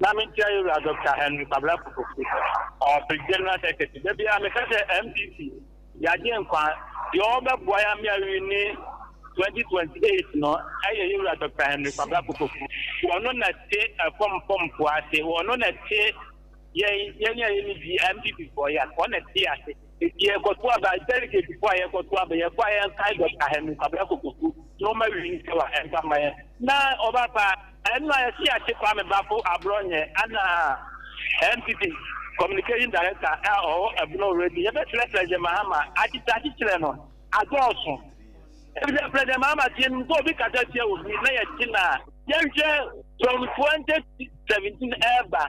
Na me nkyia yɛwura Dɔkta Henry Kwabena Kofofi, ɔwɔ Page General Secretary. Da biara me ka sɛ MPP yɛ agye nkwa, deɛ ɔbɛboa yɛ ama yɛawini 2028 no ɛyɛ yɛwura Dɔkta Henry Kwabena Kofofi. Ɔno na te ɛfɔm fɔm mpo ase, ɔno na te yɛn yɛn a yɛne di MPP foɔ yɛ ase, ɔno na te yɛ ase. Enti yɛkɔto aba, dɛlegɛtfo a yɛkɔto aba, yɛkɔ a yɛnkae Dɔkta Hanu Kwabena Kokoku na ɔma wini kyɛw a ɛmfa mma yɛn. Na ɔba paa, ɛno a yɛte ase Kwame Bafo Abrɔnyɛ ana NPP Communication Director a ɔwɔ ɛbono already, yɛbɛfrɛ President Mahama, akyekyeakye kyerɛ no adɔɔso. Efisɛ President Mahama teɛ nim sɛ obi kasa tia obi na yɛte no a, yɛnhwɛ from 2017 ɛreba.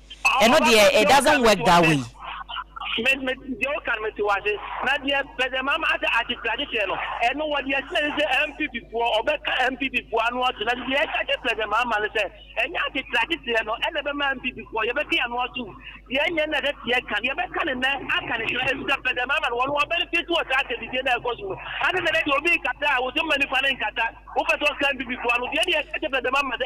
Ɛno deɛ it doesn't work that way. Me me deɛ woka no mete wase na deɛ president mahama asɛ akyekyeakye kyerɛ no ɛno wɔ deɛ ɛsɛ ne sɛ npp foɔ ɔbɛka npp foɔ ano ato na deɛ ɛka kyerɛ president mahama no sɛ ɛnyɛ akyekyeakye kyerɛ no ɛna ɛbɛma npp foɔ yɛbɛka yɛn ano ato deɛ ɛnyɛ na ɛsɛ teɛ ka deɛ ɛbɛka ne nɛ aka ne kyerɛ ɛfisɛ president mahama no wɔn wɔbɛne fiti wɔ saa asɛmdidie na ɛkɔ so no ane sɛ dɛ deɛ obi nkata a wɔsɛ mma nipa no nkata wopɛ sɛ ɔka npp foɔ ano deɛ deɛ ɛka kyerɛ president mahama sɛ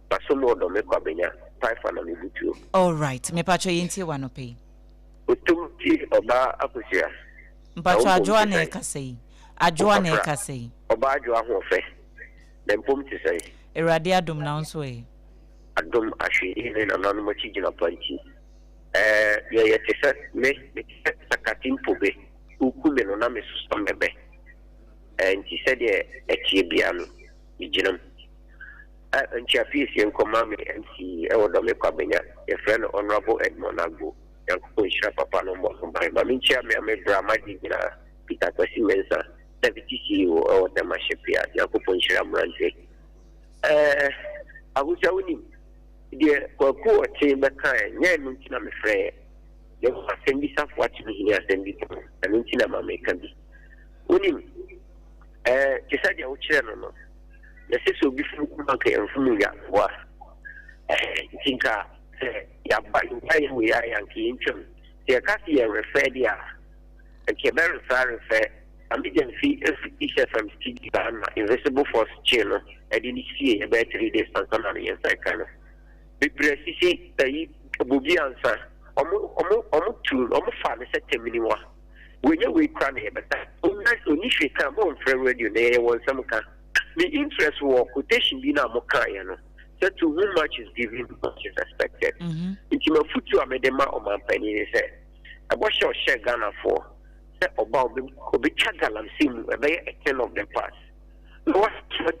Na so mo ɔdɔ me kwa benya. Paifa na me butuo. Alright mepakyɛw yɛntie wo anɔpa yi. Otom tie ɔbaa akosua. Na wo Mpakyɛw mpom adwoa te na sɛn? ɛkasa yi adwoa na Ɔfafra, ɛkasa yi. ɔbaa adwoa hoɔfɛ na mpom te sɛn? Awurade adom na wo nso ɛ. Adom ahwe yi ne nananom akyi gyinapa nti ɛɛ yɛ yɛ te sɛ me me te sɛ sakate mpo be wo ku me no na me so sɔ mɛbɛ ɛɛ nti sɛdeɛ ɛteɛ biaa no me gyina mu. A Nkyia Piesie nkɔma me MC wɔ Dɔme Kwabenya, yɛfrɛ no Honourable Edmond Agbo, Nyankopɔn nhyira papa no mmɔ ho ban. Ma menkyia me ame bra magye nyinaa, Peter Kwasi Mensah, Deputy CEO wɔ Tema Shipyard, Nyankopɔn nhyira mmerante. Ɛɛ Ahusa wonim, deɛ Kwaku Ɔkye bɛkaɛ, ɛnyɛ ɛno nti na mefrɛeɛ, na mmom asɛm bi Safoa tumi hini asɛm bi pon, ɛno nti na ma meka bi. Wonim, ɛɛ te sɛ deɛ wokyerɛ no no, na sese obi fi mu ma nka yɛmfo mu nya mmoa. Ɛhɛ, nti nka sɛ yɛaba nka yɛ wei ayɛ anka yɛntwam. Sɛ yɛka se yɛrefɛ deɛ a, anka yɛbɛrefɛ arefɛ. Maame Gyamfi firi East FM studio a na Invisible Force Kye no de no sieeɛ bɛyɛ three days ansa na ne yɛnsa reka no. Bebrɛ sisi ayi, Bobi Ansah, wɔn, wɔn, wɔn tu, wɔn fa no sɛ Taminiwa. wanyɛ wei koraa na yɛbɛka ɔnna ɔnni hwee ka a mommfrɛ no radio na yɛyɛ wɔn nsɛm ka me interest wɔ quotation bi no a mokaeɛ no sɛ to whom much is given much is expected mhm. nti mafotuo a mede ma ɔmampanin ne sɛ ɛbɔ hyɛ ɔhyɛ Ghanafoɔ sɛ ɔba ɔbɛtwa galamsey mu ɛbɛyɛ a thing of the past na watwa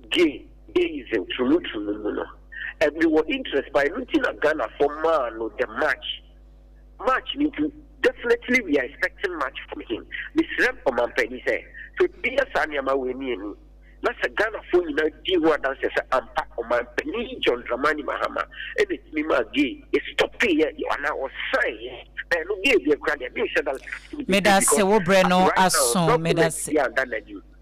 gay gayism turumuturumu mu no ɛbi wɔ interest pa ɛno nti na Ghanafoɔ maa no the march March no nti definitely we are expecting much from him. Mesrɛ Ɔmanpanin sɛ sɛ obi yɛ saa nneɛma wei ne ani na sɛ Ghanafoɔ nyinaa di ho adanseɛ sɛ ampa Ɔmanpanin John Dramani Mahama na ɛtumi maa gay stɔpeeɛ anaa ɔsaeɛ ɛɛ no gay deɛ koraa deɛ menhyɛ da sɛ ɛtumi bɛtumi because as of right now dɔkemɛnte biara nna n'anim.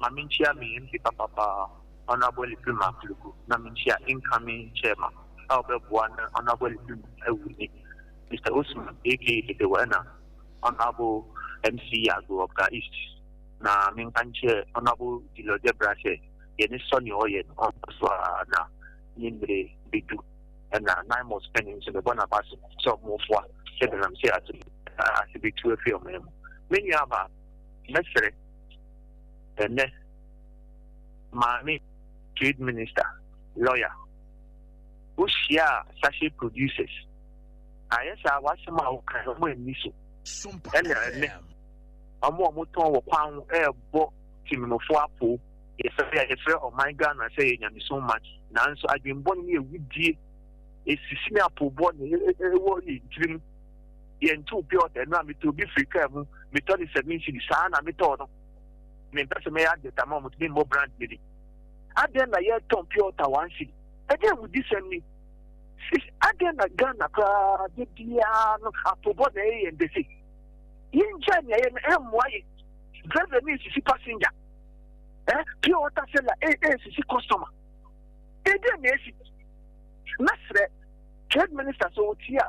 ma menkyia me MP papa paa Honourable Alipirim Apliku na menkyia incoming Chairman a ɔbɛboa na Honourable Alipirim awu ne Mister Osman aka Dedewa ɛna Honourable MC Yago of Ga East na menka nkyerɛ Honourable Dillo Debrah sɛ yɛne sɔ nea ɔyɛ no ɔnkɔ so a na ne mmere bɛdu ɛna Naimos panin nso mebɔ n'aba so sɛ ɔmofoa sɛ menam sɛ ase bɛtu afiri ɔman mu me nua baa mɛsrɛ Ɛnnɛ, Maame, Trade Minister, Lawyer. Wohyiaa Sachet Producers, anyɛ saa w'asɛm a wokae no wɔn anni so. Ɛna ɛnnɛ, wɔn a wɔtɔn wɔ kwan ho rebɔ Temenofo apoo, yɛfrɛ a yɛfrɛ ɔman Ghana sɛ ɛyɛ nyamesom man, nanso adwemmɔne ne awudie, asisi ne apoobɔ na ɛwɔ yɛn tirim. yɛntow pure water no a, metɔ bi firi kaa mu, metɔ no seven cedis, saa na metɔɔ no. Mempɛ sɛ mɛyɛ advert ama wɔn nti memmɔ brand no din. Adɛn na yɛtɔn pure water one cedi? Ɛdeɛn awudisɛm ni? Sis, adɛn na Ghana koraa da biara no apobɔ na ɛyɛ yɛn dɛ sei? Yɛngyae nea yɛyɛ no, ɛmmoa yɛn. Driver no resisi passenger, eh, pure water seller resisi customer. Ɛdeɛn na ɛsi? Mɛsrɛ trade minister sɛ ɔtie a,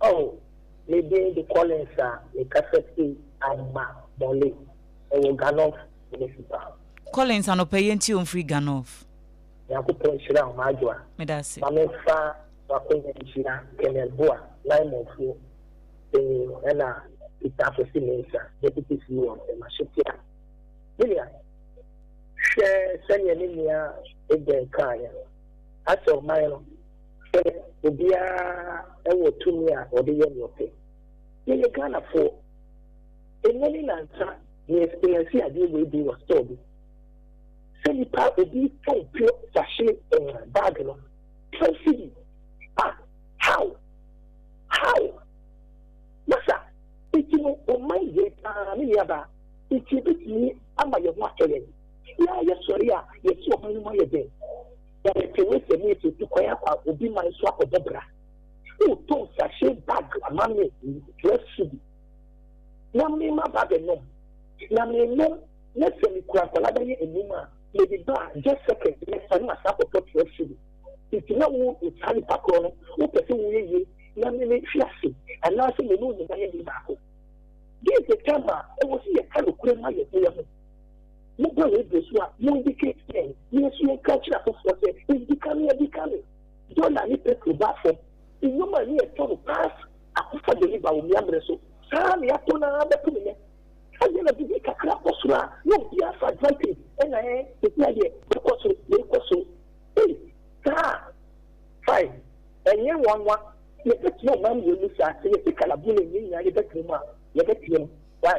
Oh me din de Collins a me kasa fi Amma Bole ɛwɔ Ghanov Municipal. Collins anɔpa yɛ nti o mfiri Ghanov. Nyankopɔn nhyira wo m'adwoa. Medase. Ma me nfa w'akonya nhyira Colonel Boa, Naimonfoɔ panyin ɛna Peter Afosi Mensah, Deputy CEO of the Masetia. William, hwɛ sɛdeɛ me nua Aiden kaeɛ no, Asɛ ɔman no. sɛ obiara wɔ tumi a ɔde yɛ nea ɔpɛ. Yɛyɛ Ghanafoɔ. Ɛnnɛ ne nansa me experience adeɛ wei bi wɔ store bi. Sɛ nipa obi tɔn pure sachet eh, bag no twelve cedi ah how how masa nti no ɔman yie paa me nuabaa nti ebetumi ama yɛn ho atɔ yɛn yɛa yɛsɔre a yɛsi ɔman no mu ayɛ den. Yɛrepɛ w'asɛm yi sɛ obi kwan akɔ obi man so akɔbɔ bra. Wotɔn sachet bag ama me twelve cedi na me ma ba bɛnom na menom na sɛ mekura nkwadaa bɛyɛ anum a mede ba a just second mɛsa na masan akɔtɔ twelve cedi. Nti na wo saa nipa korɔ no wopɛ sɛ woyɛ yie na me mehwe ase anaasɛ me ne wo nyinaa yɛ yɛ baako. This is the time a ɛwɔ sɛ yɛka nokorɛ ma yɛn ho yɛn ho. Mobɔ yɛn bra so a, mo indicate yɛn na yɛn nso yɛnka nkyerɛ afoforɔ sɛ ɛdi ka no, yɛde ka no. Dɔla ne petro baa fam. Nneɛma a na yɛtɔ no pass akɔfa deliver wɔ mmea mmere so. Saa ara na yɛatɔ no ara bɛto nnɛ. Ɛdeɛn na biribi kakra kɔ soro a na obiara fa advantage ɛna ɛɛ sesia deɛ mɛkɔ soro, wei kɔ soro. Ei! Saa? Fine, ɛnyɛ nwanwa, yɛbɛtena ɔman mmienu saa, sɛ yɛte Kalabule nnyɛ nyinaa yɛbɛtena mu a, yɛbɛteam. Why?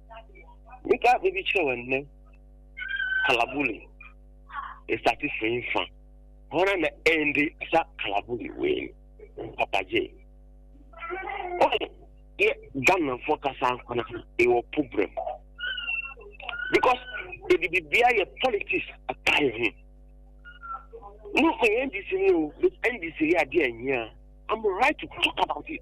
Meka asɛm bi kyerɛ wɔn nnɛ. Kalabuli esate firi fa. Hɔn na ɛnde sa kalabuli wei no. Papa gye. Ɔn yɛ Ghanafoɔ kasa nkwana ɛwɔ problem. Because yɛde bibia yɛ politics ataa yɛ ho. No ɔyɛ NDC no o, NDC yɛ adeɛ ɛnyia. I'm right to talk about it.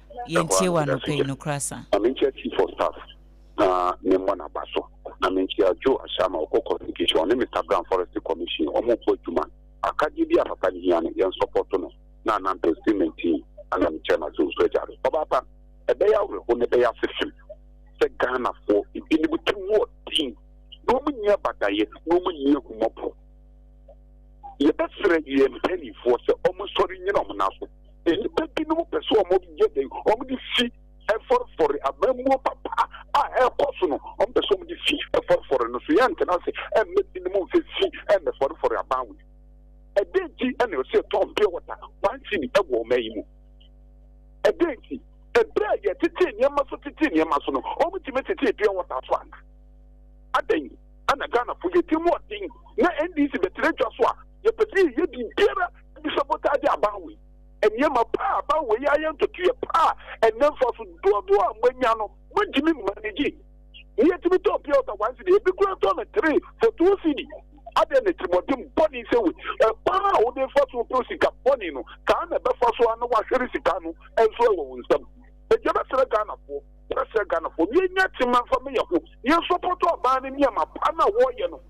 yɛntie wo anɔpa yi, nokorɛ asa. Ma menkyia chief of staff na memmɔ n'aba so, na menkyia Joe Ashama, ɔkɔ communication, ɔne Mister Brown forestry commission, wɔn ɔɔbɔ adwuma, akadeɛ bi a papa no hia no yɛn support no, na Anampe cement team ɛna me chairman so nso agya do. Ɔbaa pa, ɛbɛyɛ awerɛho na ɛbɛyɛ asesem sɛ Ghanafoɔ ebinom ti mu ɔden na wɔn nni abadaeɛ na wɔn nni ahummɔborɔ. Yɛbɛsrɛ yɛn mpanimfoɔ sɛ wɔnsɔre nnyina wɔn nan so. Nnipa binom pɛ sɛ wɔyɛ dɛn? Wɔde fi fɔrefɔre. Amammuo papa a ɛrekɔ so no, wɔpɛ sɛ wɔde fi fɔrefɔre no so. Yɛntena ase mma ebinom mfa fi mmɛfɔrefɔre aban wei. Ɛdɛn nti na ɛwɔ sɛ yɛtɔn pure water one cedi wɔ ɔman yi mu? Ɛdɛn nti? Ɛberɛ a yɛtetee nneɛma so tetee nneɛma so no, wɔtumi tetee pure water so ana? Adɛn ana Ghanafo yɛti mu ɔden na NDC bɛtena dwa so a yɛpɛ sɛ yɛyɛ biribiara Adusabota de aba wei. Nneɛma pa a aba wei ayɛ ntotoeɛ pa a ɛnna mfaso dodoɔ a moanya no montumi mmanegye. Nea ɛtumi tɔn pure water one cedi, ebi koraa tɔn no three for two cedi. Adɛn na tirimmɔden bɔne sɛ wei? Ɛkwan a wode fa so pɛ sika bɔne no, saa na ɛbɛfa so ara na wahwere sika no nso wɔ wo nsam. Enti ɛbɛsrɛ Ghanafoɔ, ɛbɛsrɛ Ghanafoɔ, yɛnya tema mfa ma yɛn ho, yɛnsɔpɔtɔ aban no nneɛma pa no a wɔreyɛ no.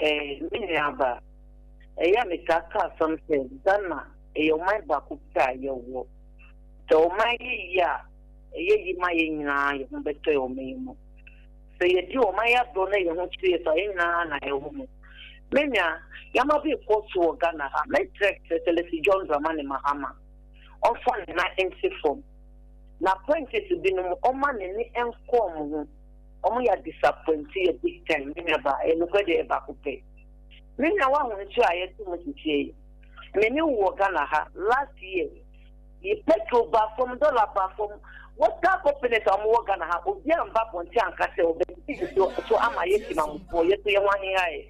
Eh, me nuabaa, ɛyɛ a metaa ka asɛm sɛ Ghana yɛ ɔman baako pɛ a yɛwɔ. Sɛ ɔman yɛ yie a, ɛyɛ yie ma yɛn nyinaa, yɛn ho bɛtɔ yɛn ɔman yi mu. Sɛ yɛdi ɔman yi agorɔ na yɛn ho kyere yɛn so a, yɛn nyinaa na yɛwɔ mu. Me nua, yɛama bi rekɔ so wɔ Ghana ha, mɛsrɛ sɛ sɛ Leslie John Dramani Mahama, ɔmfa ne nan nte fam, na apprentice binom ɔmma n'ani nkɔ wɔn ho. Ɔmo yɛ adisapwɛnti yɛ big time me nua ba yɛ nokwɛ deɛ yɛ baako pɛ me nua wahu nsuo a yɛte mu sesie yi me ne wo wɔ Ghana ha last year yi petrol baa fam dollar baa fam water companies a ɔmo wɔ Ghana ha obiaa mba abɔnten anka sɛ ɔbɛte nsuo so ama yɛ Timamufoɔ yɛ so yɛ ho ahehaɛ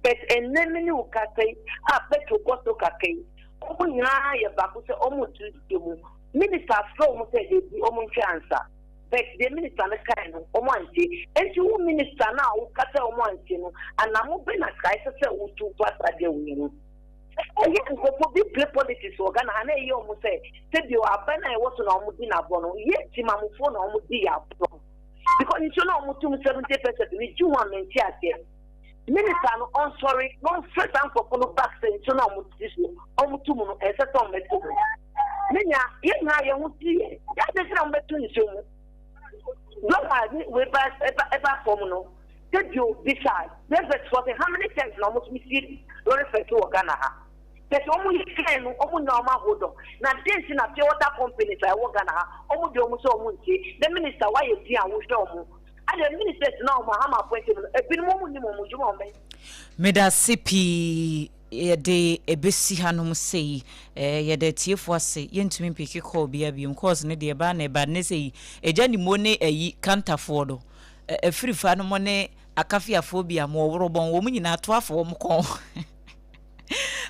but ɛnnɛ me ne wo kasa yi a petrol kɔ soro kakra yi ɔmo nyinaa yɛ baako sɛ ɔmo nte nsuo mu minister afrɛ ɔmo sɛ ebi ɔmo nhwɛ ansa. But deɛ minister no kae no wɔn antie. Enti wo minister no a wo ka sɛ wɔn antie no anamo bɛ na Christ ɛsɛ sɛ wo tu fa saa deal wei ho? Ɛyɛ nkurɔfoɔ bi play politics wɔ Ghana ha na ɛyɛ wɔn sɛ sɛbio aban a ɛwɔ so na wɔn di no agorɔ no yɛ timamufoɔ na wɔn di yɛ agorɔ because nsuo no a wɔn tum 70 pɛsɛs no gye wɔn a mente aseɛ. Minister no ɔnsɔre na ɔnfrɛ saa nkorɔfo no back sɛ nsuo no a wɔn tiri so wɔn tu mu no ɛnsɛ sɛ wɔn tu mu. Me nua, yɛn nyinaa yɛn ho teɛ, yɛ adɛn nti na wɔn bɛ tu nsuo mu? Blɔk a ne wei ba ɛba ɛba fam no, sɛ bio bisa Reverend foɔ sɛ how many times na wɔn tumi sie lɔre fɛɛfɛ wɔ Ghana ha? Kyɛ sɛ wɔn yɛ fɛn no wɔn nya wɔn ahold on, na dɛn nti na pure water companies a ɛwɔ Ghana ha wɔn deɛ wɔn sɛ wɔn nsie? Dɛ minister woayɛ din a wohwɛ wɔn. Ɛnde minister gyina wɔn a hama apɔnkye mu no, ebinom wɔn nim wɔn adwuma a wɔn bɛyɛ. Medase pii yɛde ɛbɛsi ha nom sei eh, yɛda atiefoɔ ase, yɛntumi mpeke call biara biom cause no deɛ ɛba na ɛba, nnɛ sei Agya Nimo ne ayi Kantafoɔ no, Afirifa nom ne Akafiafoɔ bi a mo Ɔworobɔn, wɔn nyinaa toa fo wɔn kɔn.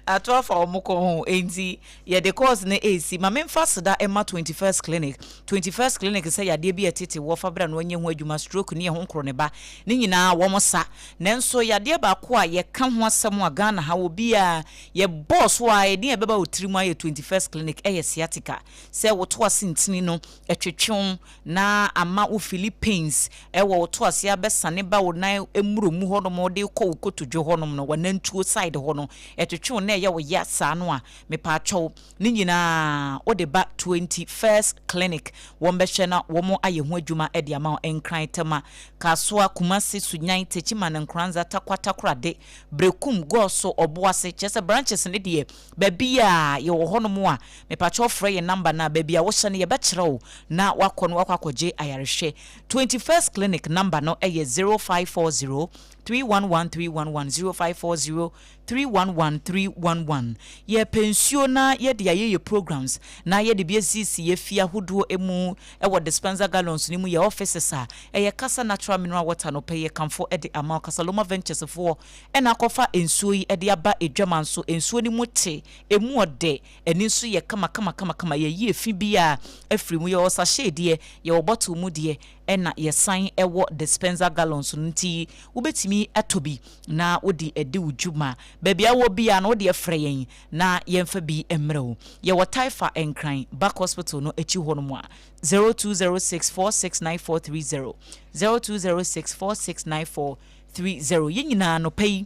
ato afa wɔn kɔn ho nti yɛde course no ɛresi ma memfa seda ɛma 21st clinic 21st clinic sɛ yadeɛ bi ɛtete wɔ fa bra no ɔnyɛ ho adwuma stroke ne ɛho nkoro ne ba ne nyinaa wɔn sa nanso yadeɛ baako a yɛka ho asɛm a Ghana ha wɔ biara yɛ bɔɔ so a ɛdeɛ ɛbɛba wɔ tirim ayɛ 21st clinic ɛyɛ sciatica sɛ woto ase ntini no ɛtwetwe na ama wo Philippines wɔ wo to aseɛ abɛsane ba wo nan mmuro mu hɔ nom de kɔ wo kotodwe hɔ nom no w'anantuo side hɔ no ɛtwetwe wo na ɛyɛ wo ya saa no a mepaakyɛw ne nyinaa wo de ba twenty first clinic wɔn bɛhwɛ na wɔn ayɛ ho adwuma de ama wo Nkran Tema Kasoa Kumasi Sunyani Techiman Nkoranza Takwa Takorade Berekum Goso Oboase kyerɛ sɛ branches no deɛ Baabi a yɛwɔ hɔnom a, mepakyɛw frɛ yɛn number no a, baabi a wohyɛ no yɛbɛkyerɛ wo na woakɔ no woakɔ akɔgye ayarehwɛ. Twenty First Clinic number no yɛ zero five four zero, three one one three one one, zero five four zero, three one one three one one. Yɛpɛ nsuo na yɛde ayɛ yɛ programs na yɛde bi asisi yɛ fie ahodoɔ mu wɔ dispenser gallons no mu, yɛ offices a, ɛyɛ kasa natural mineral water no pɛ yɛ kamfo de ama wo, Kasaloma Ventures foɔ. na akɔfa nsuo yi de aba Adwaman so, nsuo no mu te, ɛmu ɔdɛ, ani nso yɛ kamakamakamakama, yɛyi efi biara afiri mu, yɛwɔ sachet deɛ, yɛwɔ bottle mu deɛ, ɛna yɛsan wɔ dispenser gallons no, nti wobɛtumi atɔ bi na wode adi wo dwuma, baabi a wowɔ biara no wodeɛ frɛ yɛn na yɛmfa bi mmerɛ wo, yɛwɔ Taifa Nkran, Back Hospital no akyi hɔ nom a, 0206 469430, 0206 469430. three zero yɛn nyinaa anɔpa yi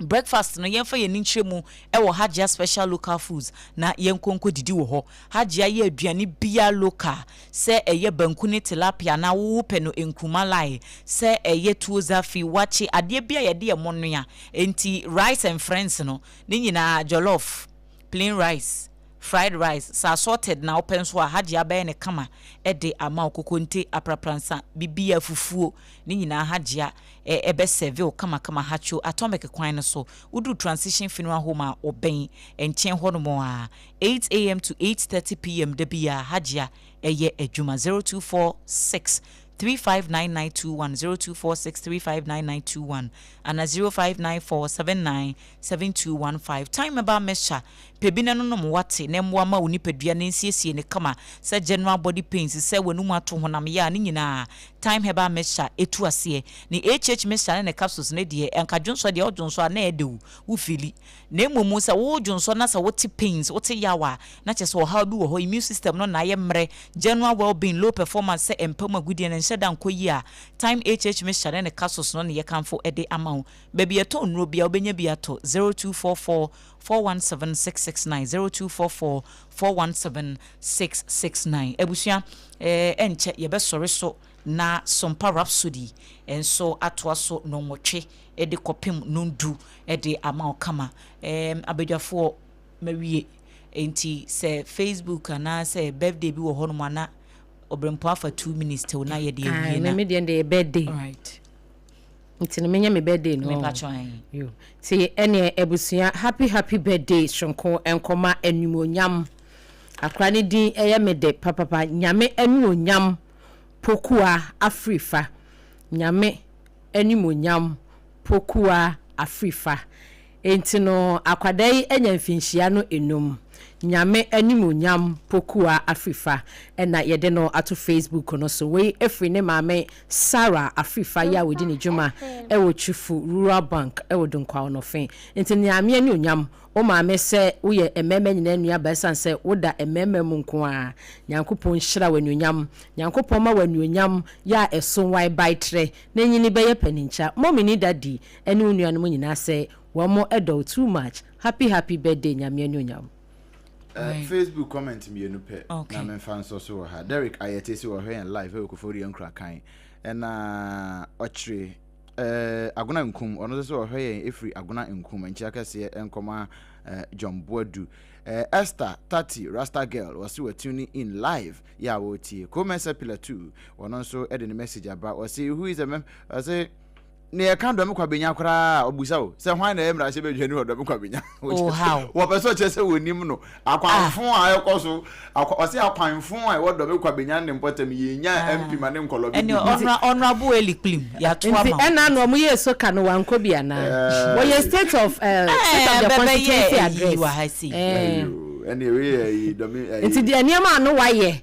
breakfast no yɛmfa yɛn ani nkyerɛ mu wɔ hajia special local foods na yɛnkɔ nkɔ didi wɔ hɔ hajia yɛ aduane bia local sɛ ɛyɛ banku ne tilapia na wowo pɛ no nkruma lae sɛ ɛyɛ tuo zafi wakye adeɛ bia yɛde ɛmo noa enti rice and friends no ne nyinaa jollof plain rice Fried rice, sɛ assorted na wopɛ nso a, Hajji abɛyɛ no kama de ama wo. Kokonte, aprapransa, bibia, fufuo, ne nyinaa Hajji a ɛbɛ serve wo kamakama. Hacho, Atomic kwan no so, woduru Transition Funeral Home a ɔbɛn, nkyɛn hɔnom a, eight AM to eight thirty PM da biara Hajji a ɛyɛ adwuma, zero two four six three five nine nine two one, zero two four six three five nine nine two one, ana zero five nine four seven nine seven two one five. Time Mɛba Mɛhyɛ Pɛ bi na ɛnonom w'ate na ɛmmoa ma wo nipadua no nsiesie no kama sɛ general body pains, sɛ w'anum ato, honam yaw, ne nyinaa. Thyme herbal mixture ɛtu aseɛ. Ne HH mixture ne ne capsules no deɛ ɛnka dwonsɔ deɛ ɔdwonsɔ a na ɛyɛ dɛw wo feeli. Na mmom sɛ wo dwonsɔ na sɛ wote pains, wote yaw a, na kyerɛ sɛ ɔhaw bi wɔ hɔ, immune system no na ayɛ mmerɛ, general well being, low performance sɛ ɛmpa mu agudeɛ no nhyɛ da nkɔ yie a, Thyme HH mixture ne ne capsules no ne yɛkamfo de ama wo. Baabi a yɛtɔn nnuro biara wobɛnya bi atɔ, 0244. 4176690244417669 Abusua, ɛnkyɛ yɛbɛsɔre so na Sompa Rhapsody nso atoa so nnɔnwɔtwe de kɔpem nnɔndu de ama wo kama. Ɛɛm, abadwafoɔ, mawie. Enti sɛ Facebook anaa sɛ birthday bi wɔ hɔnom a na Ɔberempɔn afa two minutes to na yɛde awie na. Ah, me me deɛ deɛ yɛ birthday. Alright. nti no menyɛ me birthday no yo nti ɛneɛ abusua happy happy birthday soronko nkɔma animonyam akora ne din ɛyɛ me de papapa nyame animonyam pokua afirifa nyame animonyam pokua afirifa Enti no akwadaa yi anya mfinhyia no nnum Nyame animuonyam pokua Afrifa na yɛde no ato Facebook no so Wei firi ne maame Sarah Afrifa yi a ɔdi ne dwuma wɔ Twifo Rural Bank wɔ Dunkwa Ɔnɔfe Enti Nyame anuonyam wo maame sɛ woyɛ mmarima nyinaa nuaba ɛsiane sɛ woda mmarima mu nko ara Nyankopɔn nhyira wo anuonyam Nyankopɔn ma wo anuonyam yɛ a ɛso wae bae trɛ na nyini bɛyɛ paninkya Mommy ne Daddy Ɛne wo nuanom nyinaa sɛ wɔn dɔ wo too much happy happy birthday Nyame anuonyam. Eh, Facebook comment mmienu pɛ na memfa nsɔ so wɔ ha. Derrick Ayɛtey se ɔhwɛ yɛn live wɔ Koforidua Nkurakan. Ɛna Ɔkyere eh, Agona Nkum, ɔno nso se ɔhwɛ yɛn efiri Agona Nkum. Nkyea kɛseɛ nkɔma eh, John Boadu. Eh, Esther Tati Rasta Girl, ɔse wa tune in live yɛ a ɔretie. Komɛ Sepila too, ɔno nso de ne message aba. Ɔse who is a mem, ɔse. Nea ɛka Dɔme Kwabenya koraa a, obisa o, sɛ hwan na ɛyɛ mmarahyɛbadwani wɔ Dɔme Kwabenya? Oh, how! Wɔpɛ sɛ ɔkyerɛ sɛ wɔnnim no. Akwanfo a ɛkɔ so, akwa, ɔse akwanfo a ɛwɔ Dɔme Kwabenya ne mpɔtam, yɛnnya Ah. MP ma ne nkɔlɔ bi Ɛne bɛdi. Ɔnora, Ɔnorabo Eli Kplim, yɛato Nti ama wo. ɛna na wɔn yɛ soka no wankɔ bi anaa? Ɛɛ. Wɔyɛ state of eh, state of Ɛɛ, the bɛbɛyɛ constituency ayi address. wɔ ha sei. Ɛɛ. Ayo, ɛne wei yɛ ayi, Dɔme, ayi. Nti deɛ nneɛma a no wayɛ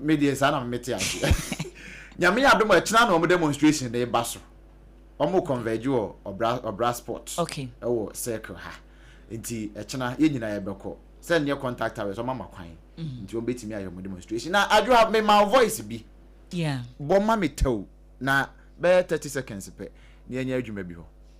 me deɛ saa na mete aseɛ nyame yɛ adom ɛkyena na ɔmo demonstration na ɛba so ɔmo converge wɔ ɔbra ɔbra sport okay. ɛwɔ circle ha nti ɛkyena yɛ nyinaa yɛbɛkɔ sɛ neɛ contact hours ɔmo ama kwan mhm. nti ɔmo bɛtumi ayɛ ɔmo demonstration na adwo ha mema voice bi yeah. bɔ ma me tɛw na bɛyɛ 30 seconds pɛ na yɛnyɛ adwuma bi hɔ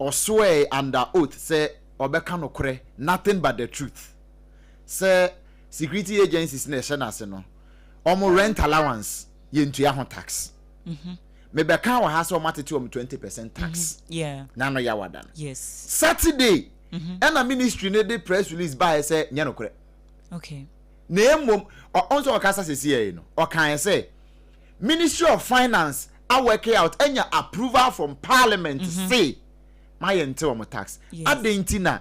Ɔsoɛe under oath sɛ ɔbɛka nokorɛ, nothing but the truth. Sɛ security agencies na ɛhyɛ no ase no, wɔn rent allowance, yɛntua ho tax. Mebɛkaa wɔ ha sɛ wɔatete wɔn twenty percent tax na ano yɛ awada no. Saturday ɛna ministry no de press release baeɛ sɛ nyɛ nokorɛ. Na mmom, ɔ, ɔn sɛ ɔkasa sɛsiɛe no, ɔkaeɛ sɛ, ministry of finance a work out anya approval from parliament mm -hmm. say ma yɛ nte wɔn tax yes. adɛn nti na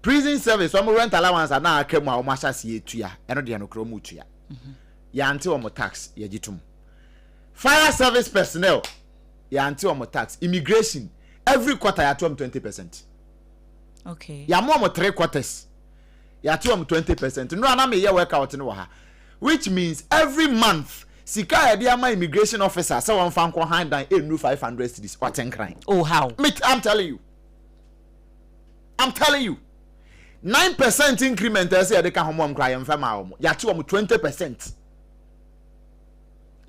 prison service wɔn rent allowance a na aka mu a wɔn ahyɛ ase yɛ tua ɛno deɛ no kura wɔn tua mm -hmm. yɛante wɔn tax yɛgye tom fire service personnel yɛante wɔn tax immigration every quarter yɛate wɔn twenty percent okay yɛamo wɔn three quarters yɛate wɔn twenty percent nnura na meyɛ workout no wɔ ha. which means every month sika a yɛde ama immigration officer sɛ wɔmfa nkɔ han dan ɛnnu five hundred cedis ɔte nkran Oh how? me I'm telling you I'm telling you nine percent increment a ɛsɛ yɛde ka ho ma wɔn koraa yɛmfa ma wɔn yɛakye wɔn twenty percent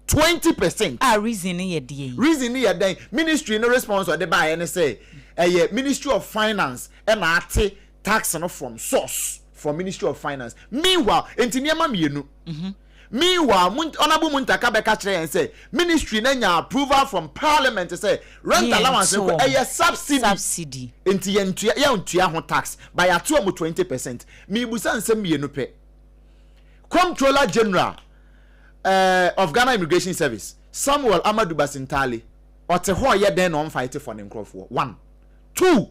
twenty percent A reason no yɛ deɛn? reason no yɛ dɛn ministry no response a ɔde baeɛ ne sɛ ɛyɛ ministry of finance ɛna ate Tax no from source from ministry of finance meanwhile enti nneɛma mmienu meanwhile honourable Muntaka bɛka kyerɛ yɛn sɛ ministry no anya approval from parliament sɛ rent allowance no ɛyɛ subsidy enti yɛntua yɛntua ho tax but yɛato wɔn twenty percent mebusa nsɛm mmienu pɛ comptroller general uh, of Ghana Immigration Service, Samuel Amadu Basintale, ɔte hɔ yɛ dɛn na ɔmfa ete fɔ ne nkurɔfoɔ? One. Two.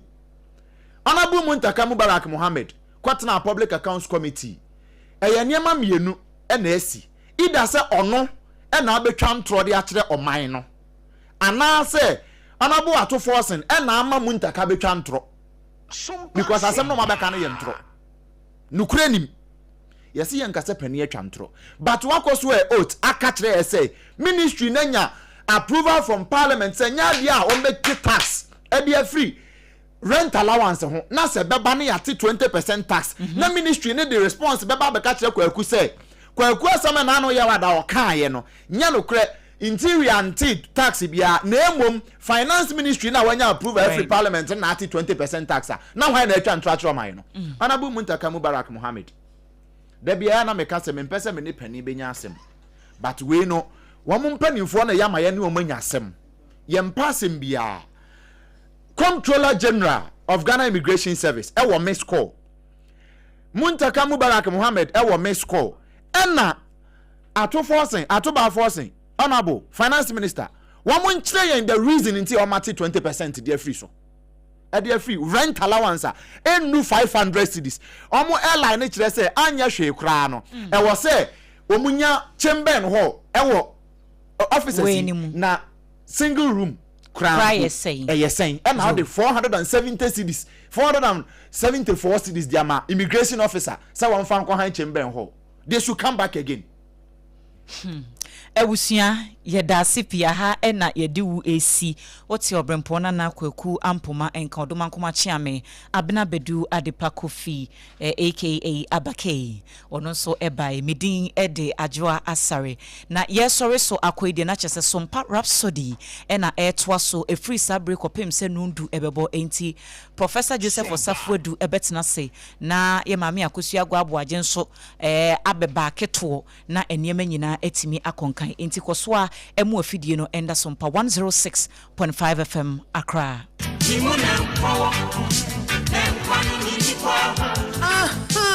Honourable Muntaka Mubarak Mohammed kɔtenaa Public Accounts Committee. Ɛyɛ nneɛma mmienu na asi, either sɛ ɔno na abɛtwa ntorɔ de akyerɛ ɔman no, anaasɛ Honourable Ato Forson na ama Muntaka abɛtwa ntorɔ, because asɛm no a wɔabɛka no yɛ ntorɔ. Nokorɛ nim. Yɛse yɛnka sɛ panin atwa ntorɔ but wakɔ so ɛ oath aka kyerɛ yɛ sɛ ministry no anya approval from parliament sɛ nyɛ adeɛ a wɔbɛgye tax de afiri rent allowance ho na sɛ bɛba no yɛate 20 percent tax mhm. na ministry no de response bɛba bɛka kyerɛ Kwaku sɛ Kwaku asɛm a naano yɛ wada ɔkaeɛ no nyɛ nokorɛ Interior nte tax biara na mmom finance ministry na wanya approval afiri parliament na ate twenty percent tax a na hwan na atwa ntorɔ akyerɛ ɔman no? Honourable Muntaka Mubarak Mohammed, Da biara na meka sɛ mempɛ sɛ me ne panin bɛnya asɛm but wei no wɔn mpanimfoɔ na ɛyɛ ama yɛne wɔn anya asɛm. Yɛmpɛ asɛm biara. Comptroller General of Ghana Immigration Service wɔ missed call. Muntaka Mubarak Mohammed wɔ missed call ɛna Ato Forson, Ato Baa Forson, Honourable Finance Minister, wɔn nkyerɛ yɛn the reason nti a wɔn ate twenty percent de afiri so, ɛde afiri rent allowance a ɛnnu five hundred cedis. Wɔn airline no kyerɛ sɛ anyɛ hwee koraa no, ɛwɔ sɛ wɔn nya chamber and hall ɛwɔ offices yi, na single room koraa mpo ɛyɛ sɛn ɛna wɔde four hundred and seventy cedis, four hundred and seventy four cedis de ama immigration officer sɛ wɔn fa nkɔ han chamber and hall. they should come back again. Hmm. Abusua, yɛda ase pii aha na yɛde wu esi. Wote ɔbrempɔn nana kwaku ampoma nka ɔdoma nkoma kyeame abena badu adepa kofi eh, aka abakei ɔno nso ɛbae me din ɛde adwoa asare na yɛsɔre so akɔe deɛ na kyɛ sɛ sompa rhapsody ɛna ɛtoa so ɛfiri saa bere kɔpem sɛ nundu ɛbɛbɔ enti professor joseph ɔsafoadu ɛbɛtena se Na yɛ Maame Akosua Aguah Aboagye nso abɛba aketoɔ na nneɛma nyinaa atumi akɔ nkan. Enti kɔ so ara mua afidie no nda so mpa one zero six point five FM Accra. Gye mu na nkɔ wɔ ho, na nkwa no nni hɔ aho.